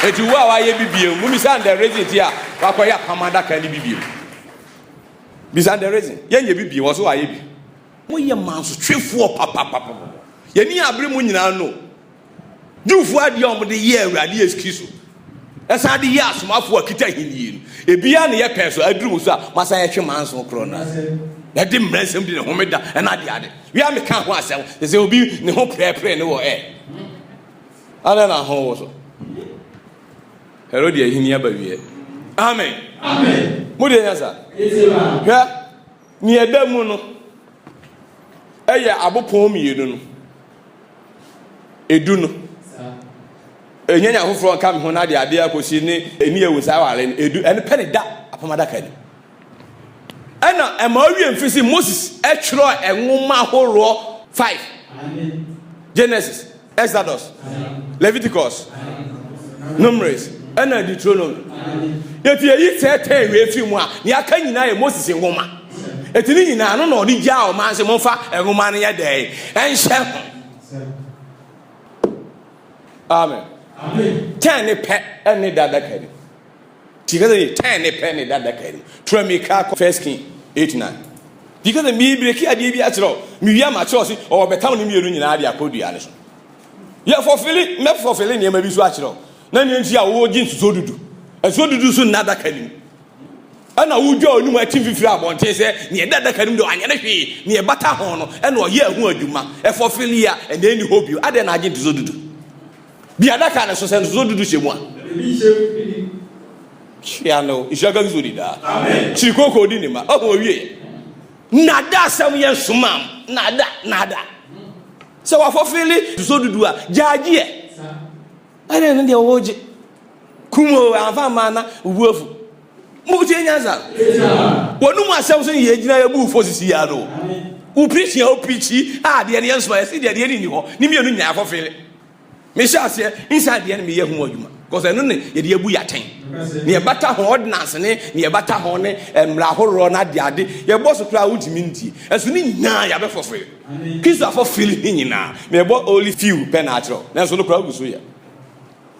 Eti wo a wayɛ bi bio, mu bisa the reason ti a wakɔyɛ apam adaka ne bi bio. Bisa the reason. Yɛnyɛ bi bio, ɔso wayɛ bi. Moyɛ mansotwefoɔ papapapapɔ. Yɛni abere mu nyinaa no. Jewfoɔ adeɛ a wɔde yɛɛ Awurade Yesu Kristo, ɛsan de yɛɛ asomafoɔ a kita ahennie no, ebiara na ɛyɛ pɛɛ so, aduru mu nso a, wɔasan yɛtwe manson korɔ no ase, na ɛde mmara nsɛm di ne homeda ne adeade. Wei a meka ho asɛm, te sɛ obi ne ho prɛprɛ ne wɔ ɛ. Adɛn na ho wo so? Herode ahenni aba wieɛ. Amen. Amen. Mo deɛ nya sa? Hwɛ. Nea ɛda mu no yɛ abopon mmienu no edu no. Ɛnyɛ nea afoforɔ nka me ho no adeadeɛ akɔsi ne ɛni awu saa aware no edu. Ɛno pɛ ne da apam adaka no. Ɛna ɛma ɔwie mfiri si Moses ɛtwerɛ nwoma ahoroɔ 5 Genesis. Exodus, Leviticus, Numeris, ɛna Deuteronomy. Eti eyi tɛɛtɛɛ wei fi mu a, nea aka nyinaa yɛ Moses nwoma. Eti ne nyinaa no na ɔde gyaa ɔman sɛ momfa nwoma no yɛ dɛn ɛnhyɛ ho. Amen. Kyɛn ne pɛ ɛne dada kari. Tika sɛ ne tan ne pɛ ne da adaka no tura mmirika kɔ First King eight nine. Tika sɛ mebreki adeɛ bi akyerɛ o, mewie a makyerɛ ɔse ɔwɔ bɛtam no mmienu nyinaa de akɔ dua no so. Yɛ fɔfele, mɛ fɔfele nneɛma bi so akyerɛ o, na nea nti a wogye nsusuo dudu, nsusuo dudu so nna adaka no mu. Ɛna wodwa wɔn anim atim fifiri abɔnten sɛ nea ɛda adaka no mu deɛ anyɛ no hwee, nea ɛbata ho no ɛna ɔyɛɛ ho adwuma. Ɛfɔfele a, ɛnna ɛnni hɔ bio. Adɛn na agye nsusuo dudu? Bi adaka no so sɛ ntotoso dudu hyɛ mu a. Hyia no, nhyira ka Kristo di daa. Kyiri kooko di ne ma, ɔho owie. Nada asɛm yɛ nsomam, nada, nada. Sɛ wafɔfeele ntotoso dudu a, gyaagyeɛ. Ɛne ne deɛ wɔwɔ gye. Kum o, anfa mmaa na obu afu. Mo tie nyansa. Wɔn no mu asɛm so yɛ gyina yɛ bu fo sisi ya no. Wo preaching a wo preachi a deɛ ne yɛ nso ayɛ si deɛ deɛ ne ni hɔ ne mmienu nyinaa kɔ fele. Me hyɛ aseɛ nsa deɛ ne me yɛ ho adwuma. Because ɛno ne yɛ deɛ bu yɛaten. Ne yɛ bata ho ordinance ne ne yɛ bata ho ne eh, mmara ahoroɔ na ade ade. Yɛ bɔ so koraa wontumi ntie. Ɛso ne nyinaa yɛ abɛfo fele. Kristo afɔ fele ne nyinaa. Me bɔ only few pɛ na akyerɛw. Nanso no koraa gu so yɛ.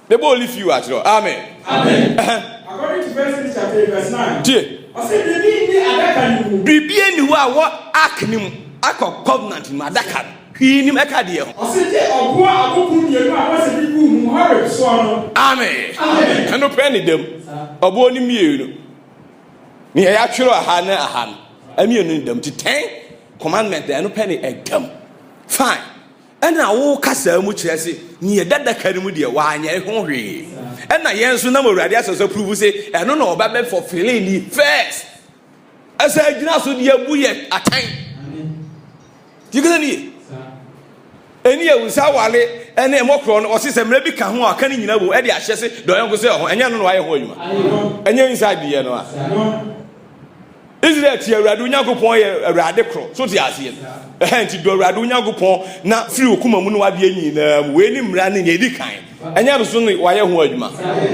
They both leave you at all. Amen. Amen. Uh-huh. According to First Kings chapter eight verse nine. Tie. Ɔsɛ biribi nni adaka no mu. Biribi nni hɔ a wɔ ark no mu akɔ covenant mu adaka no. Hwii nim ɛka deɛ ho. Ɔsɛ gye ɔboa aboko mmienu a wɔsɛ de gu mu Horeb soɔ no. Amen. Amen. Ɛno pɛ ne dam. Ɔboɔ no mmienu. Nea yɛatwerɛ aha ne aha no. Ɛmienu ne dam ti ten commandment ɛno pɛ ne ɛdam. Fine. Ɛna wo kasaa mu kyerɛ se nea ɛda adaka no mu deɛ wanyɛ ho hwee. Ɛna yɛn nso nam Awurade asɛm so apuruvu se ɛno na ɔba bɛ fɔfele ni first. Ɛsɛ agyina so de abu yɛ atan. Tikele ni ye. Ɛni yɛ wusa awale ɛne ɛmɔkorɔ no ɔse sɛ mmerɛ bi ka ho a ɔka ne nyina bom ɛde ahyɛ se dɔyɔnko sɛ ɔho ɛnyɛ no na wayɛ ho adwuma. Ɛnyɛ inside yɛ no a. Israel tie Awurade wo Nyankopɔn yɛ Awurade koro. So te aseɛ? Ɛhɛ nti dɔ Awurade wo Nyankopɔn na firi wo koma mu ne wadeɛ nyinaa mu. Wei ne mmara ne nea ɛdi kan. Ɛnyɛ bso ne wayɛ ho adwuma.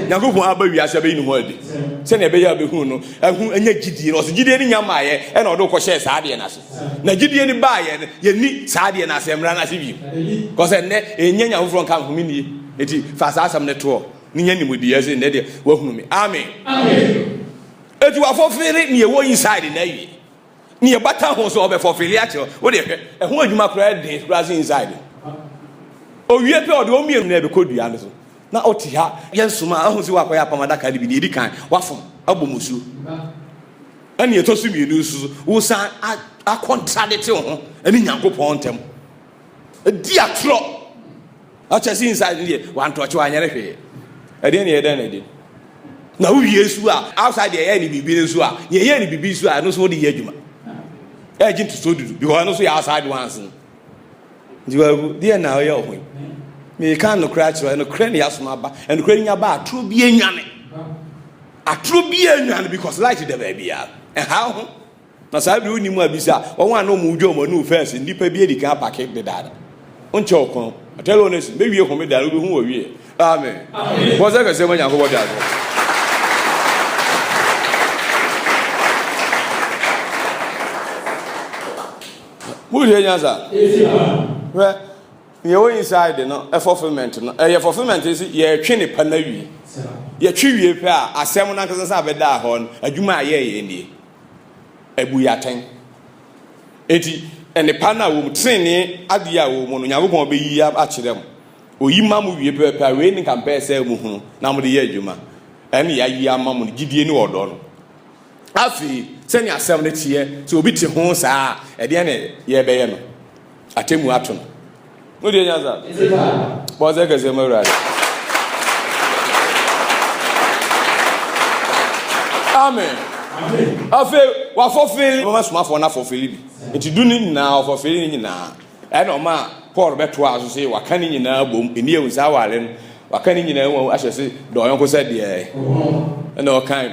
Nyankopɔn aba wiase abɛyi ne ho adi. Sɛnea ɛbɛyɛ abɛhunu no, ɛho ɛnyɛ gyidie no. Ɔsɛ gyidie no nya maayɛ ɛna ɔde wokɔhyɛɛ saa adeɛ no ase. Na gyidie no baayɛ no, yɛnni saa adeɛ no ase, mmara no ase bio. Kɔsɛ nnɛ, ɛnyɛ nya foforɔ nka nhome nie. Enti fa saa asɛm no toɔ ne nya nimdeɛ sɛ nnɛ deɛ wahunu me. Amen. Amen. Eti wafɔfele nea ɛwɔ inside no awie. Nea ɛbata ho nso ɔbɛfɔfele akyerɛ wo. Wodeɛ hwɛ, ɛho adwuma koraa den koraa sɛ inside no. Owie pɛ ɔde wɔn mmienu nyinaa bɛkɔ dua no so na ɔte ha. Yɛnsoma a, ahu sɛ woakɔyɛ apam adaka no bi. Nea ɛdi kan, woafom abɔ mu nsuo. Na nea ɛtɔ so mmienu nso so, wosan a akɔntradete wo ho ne Nyankopɔn ntam. Di atorɔ. Ɔkyɛ sɛ inside no deɛ wantɔɔkye wanyɛre hwee. Ɛdeɛ ne yɛ dɛn na ɛde. Na wo wie nso a outside deɛ yɛyɛ ne biribi no nso a deɛ yɛyɛ ne biribi nso a ɛno nso wode yɛ adwuma. Ɛgye ntotoɔ dudu because ɛno nso yɛ outside ones no. Nti wagu deɛ na ɔyɛ ɔho yi. Meka nokorɛ akyerɛ ɔ nokorɛ ne yɛasom aba. Nokorɛ nya ba atoro bi anwane. Atoro bi anwane because light da baabiara. Ɛha ho. Na saa bere wonni mu a bisa wɔn a na wɔn dwa wɔn anum fɛs nnipa bi adi kan apake dedaw no. Wonkyɛ ɔkwan o. Atɛre hɔ no asi. Bɛwie homeda no wubehu wɔ wie. Amen. Bɔ nsɛ kɛse ma Nyankopɔn de adom. Mohwɛ nyansa. Hwɛ, nea ɛwɔ inside no, fulfillment no, ɛyɛ fulfillment no sɛ yɛretwe ne pa no awie. Yɛtwe wie pɛ a, asɛm no ankasa san bɛdaa hɔ no, adwuma a yɛyɛ nie. abu yɛn atɛn. Enti, nnepa no a wɔwɔ mu, trenee adeɛ a wɔwɔ mu no, Onyankopɔn bɛyi akyerɛ mo. Ɔyi ma mo wie pɛpɛpɛ a, wei ne nka mpɛɛ sɛ mohunu na mode yɛ adwuma. Ɛnne yɛayi ama mo no, gyidie ne ɔdɔ no. Afei, sɛnea asɛm no teɛ, sɛ obi te ho saa a, ɛdeɛn na yɛbɛyɛ no? Atemmu ato no. Mo deɛ nya saa. Bɔ nsɛ kɛseɛ ma Awurade. Amen. Afei wafɔfeeli bɛma somafoɔ no afɔfeeli bi. Nti du ne nyinaa ɔfɔfeeli ne nyinaa. Ɛna ɔma Paul bɛtoa so sɛ waka ne nyinaa bom ɛni ɛwu saa awale no waka ne nyinaa mu ahyɛ se dɔ ɔyɔnko sɛ deɛ ɛna ɔkan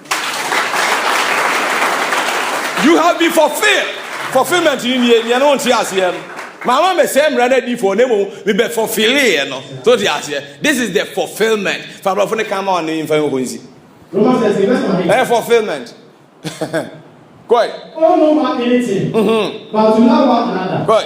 You have been fulfilled. Fulfillment ni nie, nea no nte aseɛ no. Mama me sɛ mmara no adiifoɔ na mmom mebɛ fulfilleeɛ no. So te aseɛ? This is the fulfillment. Fa aborɔfo no kan ma wɔn ne mfa yɛn hɔ nsi. Ɛyɛ fulfillment. Kɔe. Oh, no man anything. Mm-hmm. But to love one another. Kɔe.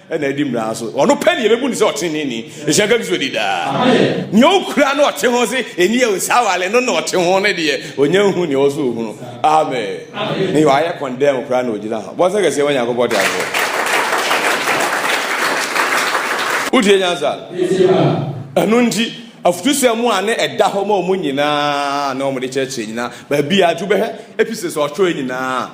ɛna adi mmara so ɔno pɛ ne yɛbɛbu ne sɛ ɔteneneeni ɛhyɛ nka kristo di daa nea ɔkura no ɔte ho se ɛni ɛwo saa wale no na ɔte ho ne deɛ ɔnya hu nea ɔsɛ ɔhunu amen ne ɔayɛ kɔndɛm koraa na ɔgyina ho bɔnsɛ kɛseɛ ma nyankopɔn de afoɔ wotie nyansa ɛno nti afutusɛm mu a ne ɛda hɔ ma ɔmo nyinaa na ɔmo de kyerɛkyerɛ nyinaa baabi a adwo bɛhɛ episode sɛ ɔtwerɛ nyinaa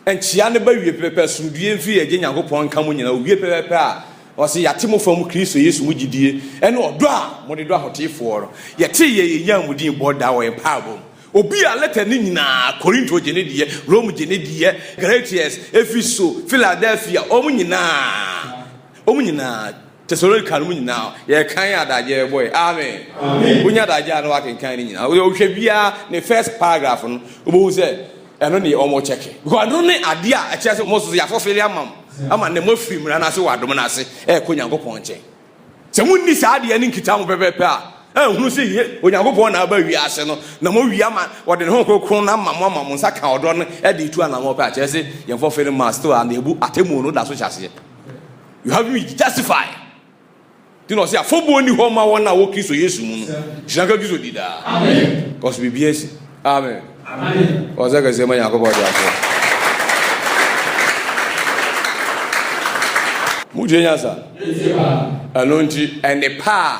Nkyia no bɛwie pɛpɛpɛ, asomdwie mfiri yɛ Agya Nyankopɔn nka mo nyinaa, owie pɛpɛpɛ a ɔse yɛate mo fam Kristo Yesu mu gyidie ɛne ɔdɔ a mode dɔ ahoteefoɔ no, yɛtee yɛ yɛnyaa mo din bɔ daa wɔ yɛn mpaebɔ mu. Obi a lɛta no nyinaa, Korinto gye ne deɛ, Rome gye ne deɛ, Galatians, Efiso, Philadelphia, wɔn nyinaa, wɔn nyinaa. Tesalonika no mu nyinaa yɛkan adagye bɔe. Amen. Wonya adagye a na wakenkan no nyinaa. Wohwɛ biara ne first paragraph no, wobɛhu sɛ ɛno ne wɔn kyɛke. Because ɛno ne adeɛ a ɛkyerɛ sɛ wɔn soso yɛafɔfele ama mo ama na moafiri mmara no ase wɔ adom no ase ɛrekɔ Onyankopɔn nkyɛn. Sɛ monni saa adeɛ no nkita ho pɛpɛpɛ a, ɛnhunu sɛ ye Onyankopɔn na aba wiase no na moawie ama wɔde ne ho kronkron no ama mo ama mo nsa ka ɔdɔ no de retu anammɔn pɛ a, kyerɛ sɛ yɛn fɔfele no ma still a na ebu atemmuo no da so hyɛ aseɛ. Yohane Justified nti na ɔse afɔbuo nni hɔ ma wɔn a wɔ Kristo Yesu mu no hyira nka Kristo di daa cause biribi asi amen ɔsɛ kɛseɛ ma Nyankopɔn de aseɛ motie nyansa ɛno nti ɛne paa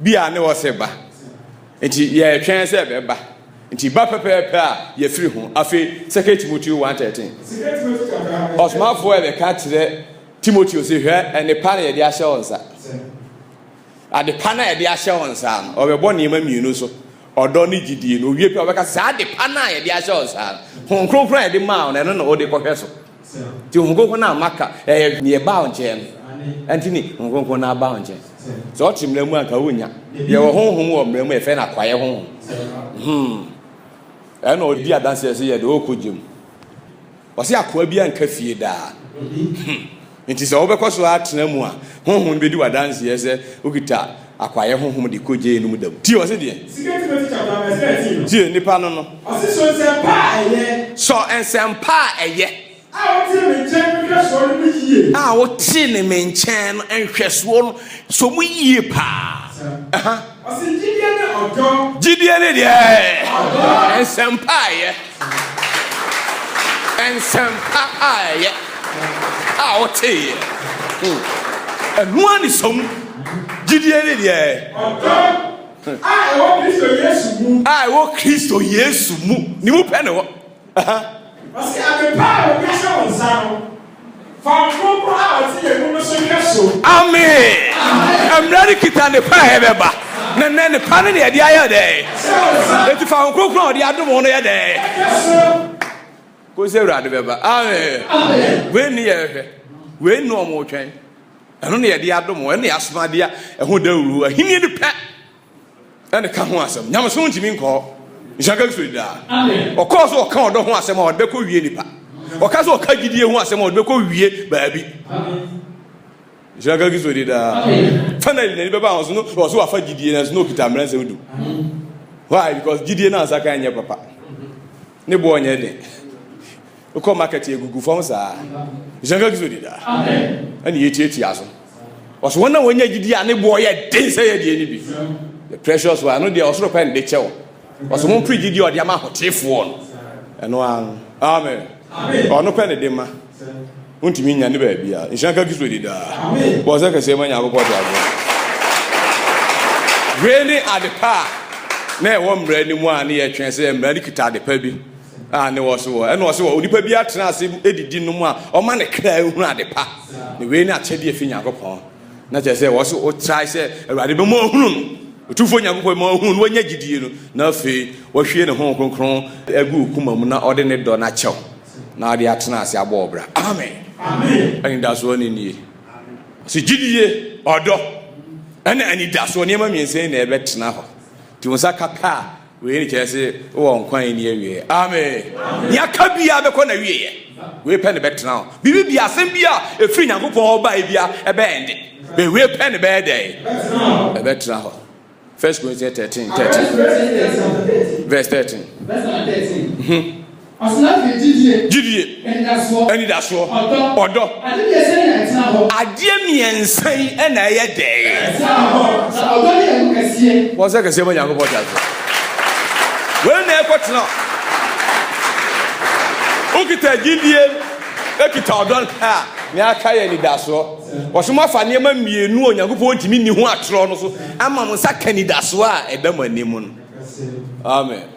Bi a ne wɔse ba, nti yɛretwɛn sɛ ɛbɛba, nti ba pɛpɛɛpɛ a yɛfiri ho. Afei 2 Timoteo 1:13, Ɔsomafoɔ rebɛka akyerɛ Timoteo se, Hwɛ, ɛnnepa na yɛde ahyɛ wo nsa. Adepa no a yɛde ahyɛ wo nsa no, ɔbɛbɔ nneɛma mmienu so, ɔdɔ ne gyidie no. Owie pɛ a ɔbɛka sɛ, saa adepa no a yɛde ahyɛ wo nsa no, Honhom Kronkron a yɛde maa wo no, ɛno na wode kɔhwɛ so. Nti Honhom Kronkron no a maka, ɛyɛ deɛ ɛbaa wo nkyɛn no, ɛnti ne Honhom Kronkron no abaa wo nkyɛn. Sɛ ɔte mmara mu anka wonnya. Yɛwɔ Honhom wɔ mmara mu, yɛfrɛ no akwaeɛ Honhom. Hmm. Ɛna ɔdi adanseɛ sɛ yɛde ɔkɔ gya mu. Ɔse akoa bi anka fie daa. Hmm. Nti sɛ wobɛkɔ so atena mu a, Honhom no bɛdi w'adanseɛ sɛ wokita Akwayɛ honhom de kogye enum da mu. Tie, ɔse deɛ. Sika Timothy Chaplak na ɛsɛ atii no. Tie, nipa no no. Ɔse sɔ nsɛmpa a ɛyɛ. Sɔ nsɛmpa a ɛyɛ. A wotee me nkyɛn no nhwɛsoɔ no mu yie. A wotee no me nkyɛn no nhwɛsoɔ no sɔ mu yie paa. Ɛha. Ɔse gyidie ne ɔdɔ. Gyidie ne deɛ. Ɔdɔ. Nsɛmpa a ɛyɛ. Nsɛmpa a ɛyɛ a ɔteeɛ. Ɛno ara nniso mu gyidie ne deɛ ɛyɛ. Ɔdɔ a ɛwɔ Kristo Yesu mu. A ɛwɔ Kristo Yesu mu. Ne mu pɛ na ɛwɔ. Ɔse, Ade pa a wɔde ahyɛ wo nsa no. Fa wo Kronkron a ɔte yɛn mu no so hwɛ so. Amen! Mmara no kita ne pa a ɛbɛba. Na nnɛ ne pa no na yɛde ayɛ dɛn? Enti fa Honhom Kronkron a ɔde adom wo no yɛ dɛn? Kɔsi Awurade bɛba. Amen! Wei ne yɛhwɛ. Wei ne wɔn retwɛn. Ɛno na yɛde adom wo. Ɛno na yɛasoma adeɛ a ɛho dawuro. Ahenni no pɛ. ɛne ka ho asɛm. Nyamesom ntumi nkɔ hɔ. Nhyira ka Kristo daa. Ɔkɔɔ so ɔka ɔdɔ ho asɛm a ɔde bɛkɔ wie nipa. Ɔka so ɔka gyidie ho asɛm a ɔde bɛkɔ wie baabi. Nhyira ka Kristo daa. Finally, n'ani bɛba ahosuo no, ɔso wafa gyidie nanso na ɔkita mmerɛ nsɛm du. Why? Because gyidie no ansa kan nyɛ papa. Ne boɔ nyɛ den. Wokɔ market egugu fam saa. Nhyira nka Kristo daa. Ɛna yɛtiatia so. Ɔso wɔn a wɔnya gyidi a ne boɔ yɛ den sɛ yɛ deɛ no bi. The precious one ɛno deɛ ɔsoro pɛ nde kyɛ wo. Ɔso ho mpere gyidi a ɔde ama ahotefoɔ no. Ɛno ara no. Amen. Ɔno pɛ ne de ma. Wontumi nya ne baabi a. Nhyira nka Kristo di daa. Bɔ sɛ kɛseɛ ma Nyankopɔn de agorɔ. Wei ne adepa a na ɛwɔ mmara no mu a ne yɛtwɛn sɛ mmara no kita adepa bi. a ne wɔ so wɔ ɛna ɔse wɔ onipa bi atena ase edidi nom a ɔma ne kra ehunu ade pa na wei ne akyɛde efi Nyankopɔn na kyerɛ sɛ wɔso ɔtrae sɛ awurade bɛma ɔhunu no ɔtumfoɔ Nyankopɔn ma ɔhunu no wɔnya gyidie no na afei wɔhwie ne ho kronkron agu okuma mu na ɔde ne dɔ no akyɛw na ɔde atena ase abɔ ɔbra amen anidasoɔ ne nie ɔse gyidie ɔdɔ ɛne anidasoɔ nneɛma mmiɛnsa yi na ɛbɛtena hɔ nti wo nsa ka pɛ a Wei ne kyerɛ se wowɔ nkwa a enni awieɛ. Amen. Nea aka biara bɛkɔ n'awieɛ. Wei pɛ ne bɛtena hɔ. Biribi biara, asɛm biara a ɛfiri Nyankopɔn hɔ baeɛ biara, ɛbɛɛnde. Bɛ wei pɛ ne bɛyɛ dɛn? Ɛbɛtena hɔ. First Corinthians 13, 13. Verse 13. gyidie, anidasoɔ, ɔdɔ. Adeɛ mmiɛnsa yi na ɛyɛ dɛɛ. Wɔn sɛ kɛseɛ ma Nyankopɔn te aseɛ. Wei na ɛkɔ tena. Wokita gyidie, ekita ɔdɔ a, na aka yɛ anidasoɔ. Wɔsɛ mo afa nneɛma mmienu a Onyankopɔn ntumi nni ho atorɔ no so ama mo nsa ka anidasoɔ a ɛda mo anim no. Amen.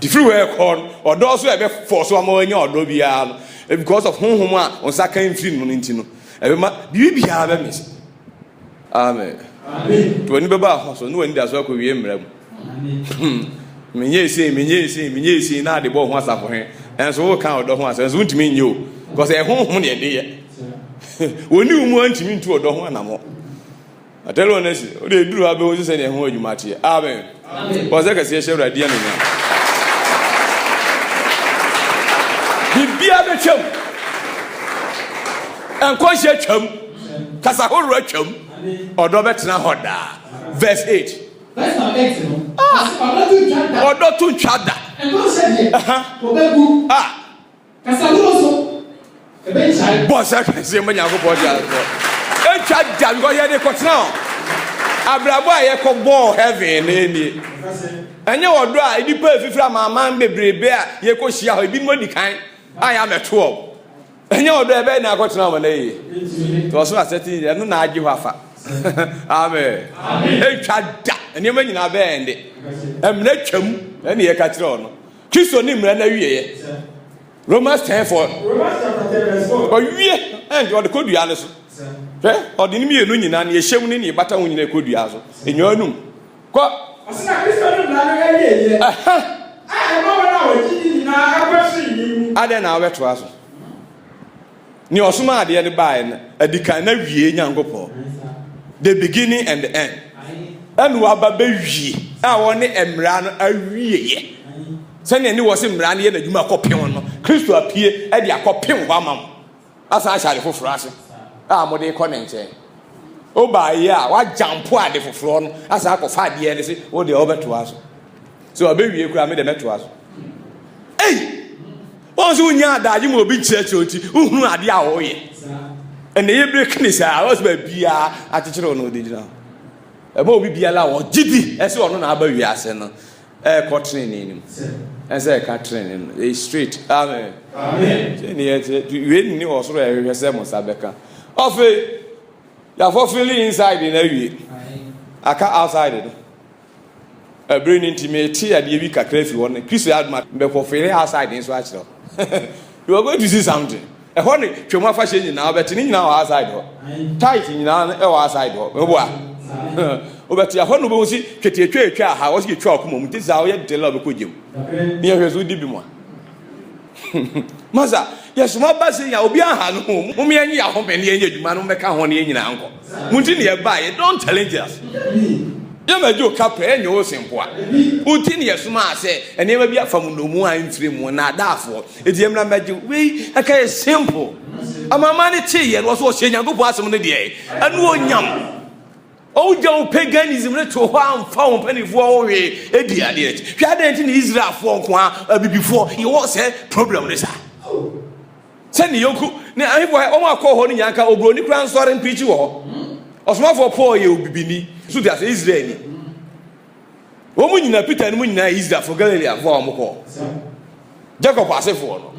Firi hɔ rekɔ no, ɔdɔ so a ɛbɛfɔɔ so ama wanya ɔdɔ biara no, because of honhom a wo nsa ka mfiri no no nti no, ɛbɛma biribi biara bɛmese. Amen. Nti w'ani bɛba ɛhɔ so ne w'ani da so akɔwie mmara mu. Hmm. Menyɛ esei, menyɛ esei, menyɛ esei na ade bɔ ho asafo he. Ɛnso woka ɔdɔ ho asɛm, ɛnso wontumi nyɛ o. Because ɛyɛ honhom ne ɛde yɛ. Wɔni wo mu a ntumi ntu ɔdɔ ho anamɔ. Na tell one nurse, wode eduru ha bɛhu nso sɛdeɛ ɛho adwuma teɛ. Amen. Bɔ sɛ kɛseɛ hyɛ Awurade din anuonyam. Biribiara bɛtwam. Nkɔnhyɛ twam. Kasa horow atwam. Ɔdɔ bɛtena hɔ daa. Verse 8. Verse number eight no. Ah! Ɔse ɔdɔ to ntwa da. Ɔdɔ to ntwa da. Ɛno sɛ deɛ. Ɛha. Wɔbɛgu. Ah! Kasa hunu nso, ɛbɛgyae. Bɔ sɛ kɛseɛ ma Nyankopɔn de ankɔ. Ɛtwa da because yɛde kɔtena hɔ. Abrabɔ a yɛkɔ bɔɔ heaven no nie. Ɛnyɛ ɔdɔ a nnipa ɛfifiri amanaman bebrebe a yɛkɔ hyia hɔ ebinom adi kan a yɛamɛto wɔn. Ɛnyɛ ɔdɔ ɛbɛyɛ na akɔtena wɔn na yie. Nti ɔsoro asɛte nyɛ ɛno na agye hɔ afa. Amen. Ɛtwa da nneɛma nyinaa bɛyɛ ɛnde. Ɛmena twam ɛne yɛka kyerɛ ɔno. Kristo ne mmara no awieɛ. Romans ten four. Ɔwie ɛnti ɔde kɔ dua no so. Hwɛ ɔde ne mmienu nyinaa ne ɛhyɛm ne ne bata ho nyinaa kɔ dua so. Enyaa num. Kɔ. Ɔsena Kristo ne mmara no awieɛ. Aha. A ɛma wɔn a wɔgye di nyinaa akɔ soro yi mu. Adɛn na wobɛtoa so? Nea ɔsomaa adeɛ no baeɛ no, adikan na wie Nyankopɔn. The beginning and the end. Ɛna waba bɛwie a ɔne mmara no awieɛ. Sɛnea ne wɔ se mmara no yɛ n'adwuma akɔpem no, Kristo apue de akɔpem hɔ ama mo. Asan ahyɛ ade foforɔ ase a mode kɔ ne nkyɛn. Wobaeɛ a, woagyampo ade foforɔ no asan akɔfa adeɛ no se wodeɛ wobɛtoa so. So ɔbɛwie koraa me deɛ mɛtoa so. Ei! Wɔn nso wonya adagye mu obi kyerɛkyerɛ nti wohunu adeɛ a wɔyɛ. Ɛnna yɛ bere kene saa wɔn sɛ baabiara akyekyere wɔn ɔde gyina hɔ. Ɛma obi biara a ɔgye di ɛsɛ ɔno na aba wiase no ɛrekɔ trenee no mu. Ɛsɛ ɛka trenee no ɛyɛ straight. Amen. Amen. Sɛ ne yɛ sɛ wei nni wɔ soro ɛhwehwɛ sɛ mo nsa bɛka. Ɔfe yafɔ feeling inside na awie aka outside no. Bere no nti, mete adeɛ bi kakra fi hɔ no, Kristo yɛ adom a, mebɛkɔ Fere House a ɛde nso akyerɛ hɔ. You are going to see something. Ɛhɔ ne Twam Afahyɛ nyinaa, wobɛte ne nyinaa wɔ outside hɔ. Tithe nyinaa no ɛwɔ outside hɔ. Meboa. Wobɛte ɛhɔ no wobɛhu si twetiatwa ɛtwa ha, wɔsi yɛtwa ɔkoma mu, nti saa woyɛ dela wobɛkɔ gyam. Ne yɛhwɛ so wodi bi mu a. Masa, yɛsom aba sei a obi aha no ho. Mom yɛnye yɛ ahome ne yɛnyɛ adwuma no mbɛka ho ne yɛn nyinaa nkɔ. Mo nti ne yɛbaa yɛ. Don't challenge us. Yɛ ma gye ka pɛ ɛnyɛ wo sempoa. Wo nti ne yɛ somaa sɛ nneɛma bi afa mo nnomu a mfiri mo nnaadaafoɔ. Eti yɛ mmra mmɛgye wei ɛka yɛ simple. Amanaman no tee yɛ no wɔsɛ wɔhyɛ Nyankopɔn asem no deɛ. Anuonyam. Wogyaw paganism no too hɔ a amfa wɔn mpanimfoɔ ho hwee di adeɛ. Hwɛ adɛn nti na Israelfoɔ nko ara abibifoɔ yɛwɔ sɛ problem no saa? Sɛ ne yɔnko ne ahemfo a wɔn akɔ hɔ no nyinaa nka oburoni koraa nsɔre mpreakyi wɔ hɔ. Ɔsomafoɔ Paul yɛ obibini, so te ase, Israelni. Wɔn nyinaa, Peter no mu nyinaa yɛ Israelfo, Galileafo a wɔkɔ Jacob asefoɔ no.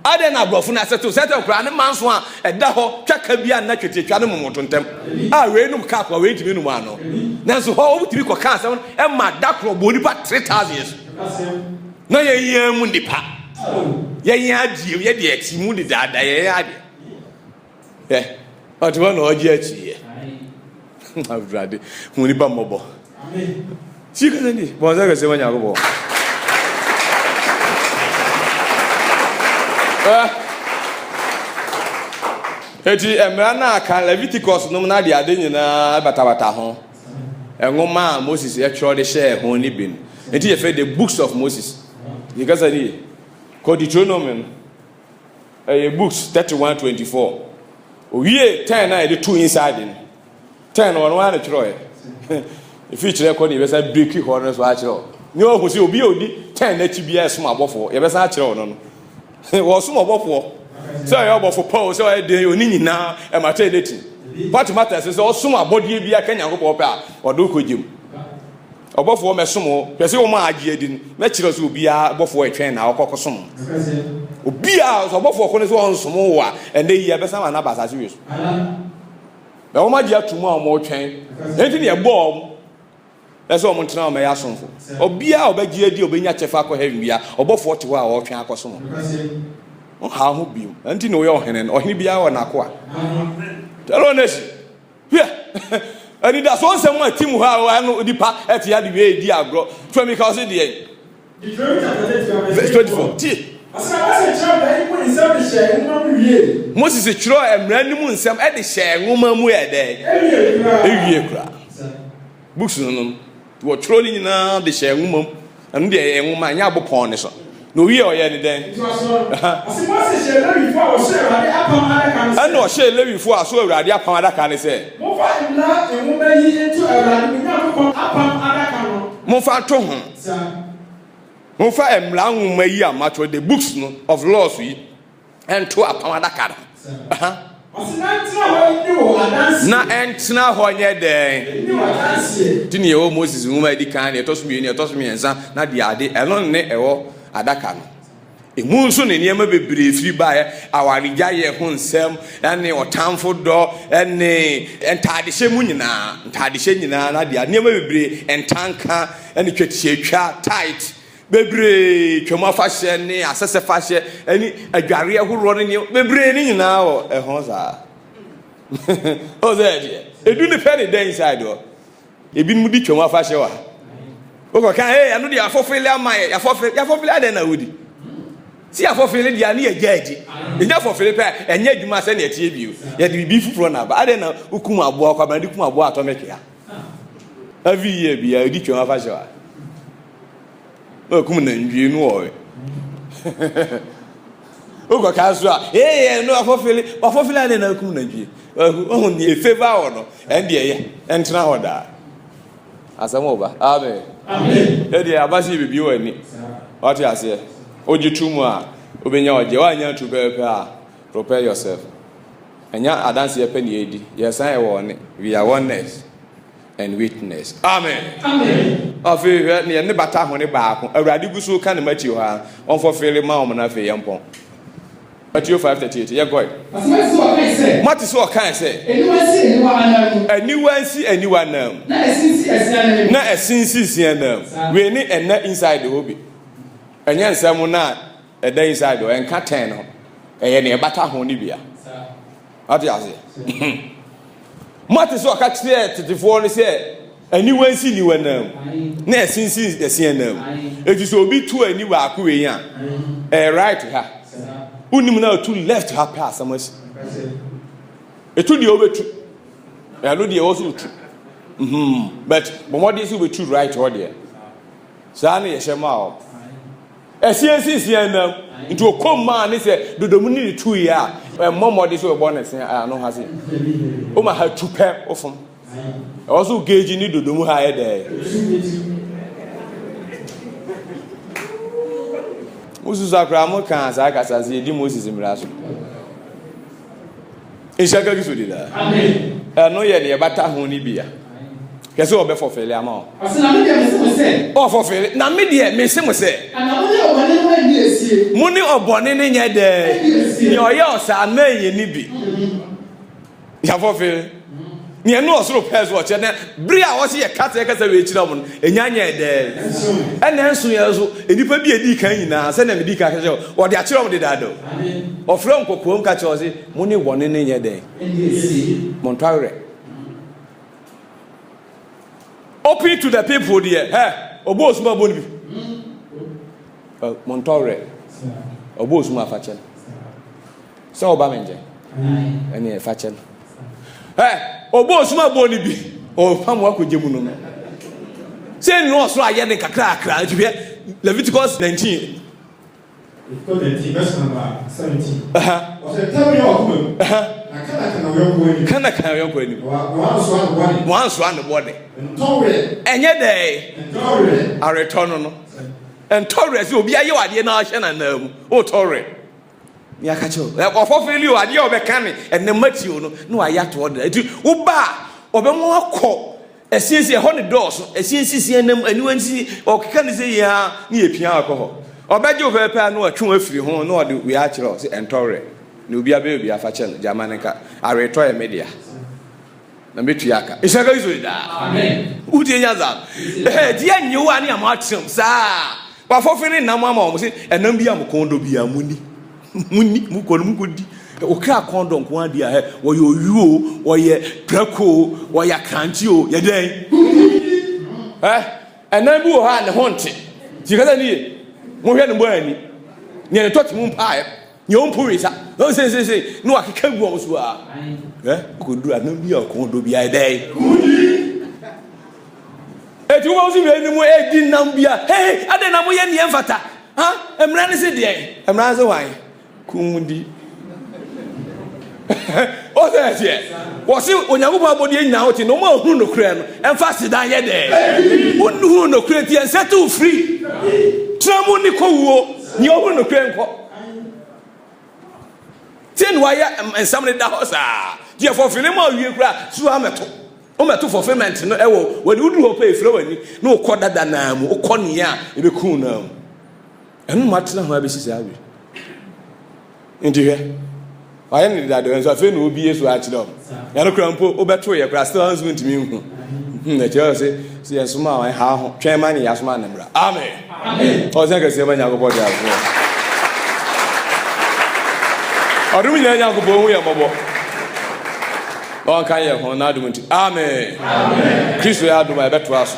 Adɛn na aborɔfo no asɛto sɛtɛ koraa ne manso a ɛda hɔ twaka bi a nna twetiatwa no momoto ntɛm a wei nom kaa koa wei ntumi nom ano. Nanso hɔ wɔtumi kɔka asɛm ɛma da korɔ bɔ nipa 3000 so. Na yɛn yɛn mu nipa. Yɛn yɛn adeɛ yɛ deɛ ɛte mu dedaada yɛn yɛn adeɛ. Hwɛ, ɔte hɔ na ɔregye akyiiɛ. Awurade, hu nipa mmɔbɔ. Tie kasa ni, bɔn sɛ kɛse ma Nyankopɔn. Eti mmara no a kan Leviticus nom no ade ade nyinaa batabata ho. Nwoma a Moses ɛtwerɛ de hyɛɛ ho ne bi no. Eti yɛfɛ the books of Moses. Yɛ kasa ni, kɔ Deuteronomy no. Ɛyɛ books thirty one twenty four owie ten na yɛde to inside no ten na ɔno ara na twerɛɛ ɛfiri kyerɛ kɔ ne yɛbɛsa breki hɔ no so akyerɛ hɔ ne ɔhu sɛ obi a ɔdi ten no akyi biara ɛsom abɔfoɔ yɛbɛsa akyerɛ hɔ no no wɔsom ɔbɔfoɔ sɛ ɔyɛ ɔbɔfo pa o sɛ ɔyɛ den ɔni nyinaa ɛmata ɛdɛti what matters sɛ ɔsom abɔdeɛ bi aka nyankopɔn pɛ a ɔde wokɔ gyem Ɔbɔfoɔ mɛsom wo. Hwɛ sɛ wɔn a agye adi no, mɛkyerɛ sɛ obiara bɔfoɔ ɛtwɛn na ɔkɔ kɔsom no. Obiara, sɛ ɔbɔfoɔ ko no sɛ ɔnsom wo a, ɛnɛ yi ɛbɛsan wɔn aba asase wei so. Na wɔn agye ato mu a wɔn retwɛn. Ɛnti na yɛbɔɔ wɔn ɛsɛ wɔn ntena wɔn ɛyɛ asomfo. Obiara ɔbɛgye adi ɔbɛnya kyɛfa akɔ heaven bia, ɔbɔfoɔ te hɔ a ɔretwɛn akɔsom no. Nhaw ho biom. Ɛnti na woyɛ ɔhene no. Ɔhene biara wɔ n'akoa. Tell on nation. Hwɛ! Anidaso nsɛm a ɛte mu hɔ a ɛwɔ ha no, onipa te ade wie redi agorɔ. Femi ka ɔse deɛn? Verse 24. Tie. Moses twerɛɛ mmara no mu nsɛm de hyɛɛ nwoma mu yɛ dɛn? Ewie koraa. Books no no. Wɔtwerɛɛ ne nyinaa de hyɛɛ nwoma mu. Ɛno deɛ ɛyɛ nwoma, ɛnyɛ abo pɔn no so. Na ɔwiee a ɔyɛɛ ne dɛn? Ɛnna ɔhyɛɛ Lewifoɔ a so Awurade apam adaka no sɛ. Momfa nto ho. Momfa mmara nwoma yi a matwerɛ, the books no of laws yi. ɛnto apam adaka no na ɛntena hɔ nyɛ dɛn nti ne ɛwɔ moses nwoma adi kan deɛ ɛtɔ so mmienu ɛtɔ so mmiɛnsa na deɛ ade ɛno ne ɛwɔ adaka no ɛmu nso ne nneɛma bebree firi baeɛ awaregya yɛ ho nsɛm ɛne ɔtamfo dɔ ɛne ntaadehyɛ mu nyinaa ntaadehyɛ nyinaa na deɛ nneɛma bebree ntanka ɛne twatiatwa tight bebree, Twam afahyɛ ne asɛsɛ fahyɛ ne adwareɛ horoɔ ne nneɛma bebree ne nyinaa wɔ ɛho saa. Ɔwɔ sɛ ɛdeɛ edu ne pɛ ne da inside hɔ. Ebinom di twam afahyɛ wɔ ha. Wokɔka ee ɛno deɛ afɔfele ama yɛ yafɔfele yafɔfele adɛn na wodi. Si afɔfele deɛ ne yɛgya agyi. Ɛnyɛ afɔfele pɛ ɛnyɛ adwuma sɛnea ɛteɛ bio. Yɛde biribi foforɔ na aba. Adɛn na wokum aboa kwabena de kum aboa atɔmɛkea. Every year bia ɛdi twam afahyɛ wɔ ha. na ɔkum nantwie no wɔ wokɔ kaa so a ee no afɔfele wafɔfele ade na akum nantwie ɔho ne efeva wɔ no ɛnde ɛyɛ ɛntena hɔ daa asɛm wɔ ba amen amen ɛde abasi bibi wɔ ani wate aseɛ ogye tu mu a obenya ɔgye wanya tu pɛpɛ a prepare yourself ɛnya adanseɛ pɛ ne edi yɛsan ɛwɔ ne we are oneness and witness. Amen. Amen. Afei hwɛ neɛ ne bata hone baako Awurade gu so ka ne Matthew ha ɔmfɔfeere ma wɔn na afei yɛmpɔn. Matthew 5:38 yɛkɔe. Moate sɛ ɔkae sɛ. Aniwa nsi aniwa nan mu. Na ɛse nsi sia nan mu. Wei ne ɛnna inside hɔ bi. Ɛnyɛ nsɛm no a ɛda yi side o ɛnka ten no ɛyɛ nea ɛbata ho no bia ate ase moate sɛ ɔka kyerɛɛ tetefoɔ no sɛ aniwa nsi niwa nam na ɛsinsi ɛseɛ nam ɛti sɛ obi tu ani baako wei a ɛyɛ right ha wonim no a tu left ha pɛ asɛm asi ɛtu deɛ wobɛtu ɛno deɛ ɛwɔ so wotu mhm. but bɔmmɔden sɛ wobɛtu right hɔ deɛ saa na yɛhyɛ ma a Ɛseɛ nsinsin anam nti ɔkɔm maa ne sɛ dodomu ne ne tuiɛ a ɛmmɔ mmɔde sɛ ɔbɔ ne se ano ha se woma ha tu pɛ wofom ɛwɔ so geegye ne dodomu ha yɛ dɛɛ wosusu akora mo kaa saa kasa sɛ yɛdi Moses mmara so Nhyira nka Kristo din daa. Ɛno yɛ deɛ ɛbata ho no bi a. Hwɛ sɛ ɔbɛfɔ fele ama wo. Ɔse na me deɛ mese mo sɛ. Ɔfɔ fele na me deɛ mese mo sɛ. Ana mo ne ɔbɔne no anni asie. Mo ne ɔbɔne no nyɛ dɛ. Nea ɔyɛ ɔsaa mɛnyɛ ne bi. Yafɔ fele. Nea ɛno ɔsoro pɛɛ so ɔkyerɛ na bere a ɔsɛ yɛka sɛ yɛkasa wei kyerɛ wɔn no ɛnya nyɛɛ dɛ ɛna nso yɛn nso nnipa bi a ɛdi kan nyinaa sɛnea medi kan kyerɛ wɔde akyerɛ wɔn dedaada o ɔfrɛ wɔn kɔkoam ka kyerɛ wɔn sɛ mo ne wɔne no nyɛ dɛn mo ntɔ awerɛ open to the people deɛ hɛ ɔbɔ osum abɔ no bi mo ntɔ awerɛ ɔbɔ osum afakyɛ no sɛ ɔba me nkyɛn ɛne ɛfa kyɛ no ɛ ɔbɔ osum abɔ ne bi ɔfa mu akɔgye mu no no sɛ nnu ɔsoro ayɛ ne kakrakra nti hwɛ Leviticus 19 kana kan yɔnko anim wansoa ne bɔne ɛnyɛ dɛ aretɔ no no ntɔwerɛ sɛ obi ayɛ wadeɛ na ahyɛ nanaa mu wotɔwerɛ Me aka kyerɛ wo. Eh, ɔfɔ fili o, adeɛ a ɔbɛka ne ɛnɛ matio no na wayɛ atoɔ dena. Eti woba a, ɔbɛma wakɔ ɛsiesi, ɛhɔ ne dɔɔso, ɛsiesi si ɛnam, aniwa nsi, ɔkeka ne sɛ yɛ a ne yɛpia akɔ hɔ. Ɔbɛgye wo pɛpɛpɛ na watwe wo afiri ho na ɔde wei akyerɛ wo sɛ ɛntɔ werɛ. Na obi abɛyɛ obi afakyɛ no, gyama no nka. Aweretɔ yɛ me dea. Na mɛtua aka. Nhyira ka Israel daa. Amen. Wotie nya dza. Ɛhɛ di yɛ nyew a ne yɛ mo atrɛm saa. Wafɔfe ne nam ama wɔn se ɛnam bi a mo kɔn dɔ bi a mo ni. Mo ni mo kɔ no mo kɔ di. Okra kɔn dɔ nko ara di a hɛ wɔyɛ oyu o wɔyɛ prɛko o wɔyɛ akrante o yɛ dɛn. Ɛ ɛnam bi wɔ hɔ a ne ho nte. Ti kasa ni ye. Mo hwɛ ne bɔ ani. Neɛ ne tɔ te mo mpaeɛ. nyɛ ɔmpo wei sa ɔn sesese ne wakeka gu ɔmo so a ɛ kɔduru a nam bi a ɔkɔn dɔ bi a ɛdɛ eti wobɛ wosi wei ne mu ɛdi nam bi a hei adɛ na moyɛ neɛ mfata ha mmara ne se deɛ mmara ne se hwan kum di ɔsɛ ɛseɛ wɔse onyankopɔn abɔdeɛ nyinaa wote na ɔma ɔhunu nokorɛ no ɛmfa sedan yɛ dɛ wonuhunu nokorɛ nti ɛnsɛ to firi tra mu ne kɔwuo neɛ ɔhunu nokorɛ nkɔ Sɛ na wayɛ nsɛm no da hɔ saa deɛ fɔfele mu awie koraa so amɛto womɛto fulfillment no ɛwɔ wɔde wodu hɔ pɛ efirɛ w'ani na wokɔ dada naa mu wokɔ nea a ebɛku naa mu ɛno mu atena ho abɛsi saa awie nti hwɛ Wayɛ no deda dɛ nso afei na obie so akyerɛ wɔn. Yɛn no kora mpo wobɛto yɛ kora still nso ntumi nhu. Hmm, ɛkyerɛ wɔ se sɛ yɛn soma wɔn ha ho twɛn ma ne yasoma ne mmra. Amen. Amen. Ɔsɛ kɛseɛ ma Nyankopɔn de afoɔ. Ɔdom nyinaa Nyankopɔn hu yɛn mmɔbɔ. Na ɔnka yɛn ho n'adom nti. Amen. Amen. Kristo yɛ adom a ɛbɛtoa so.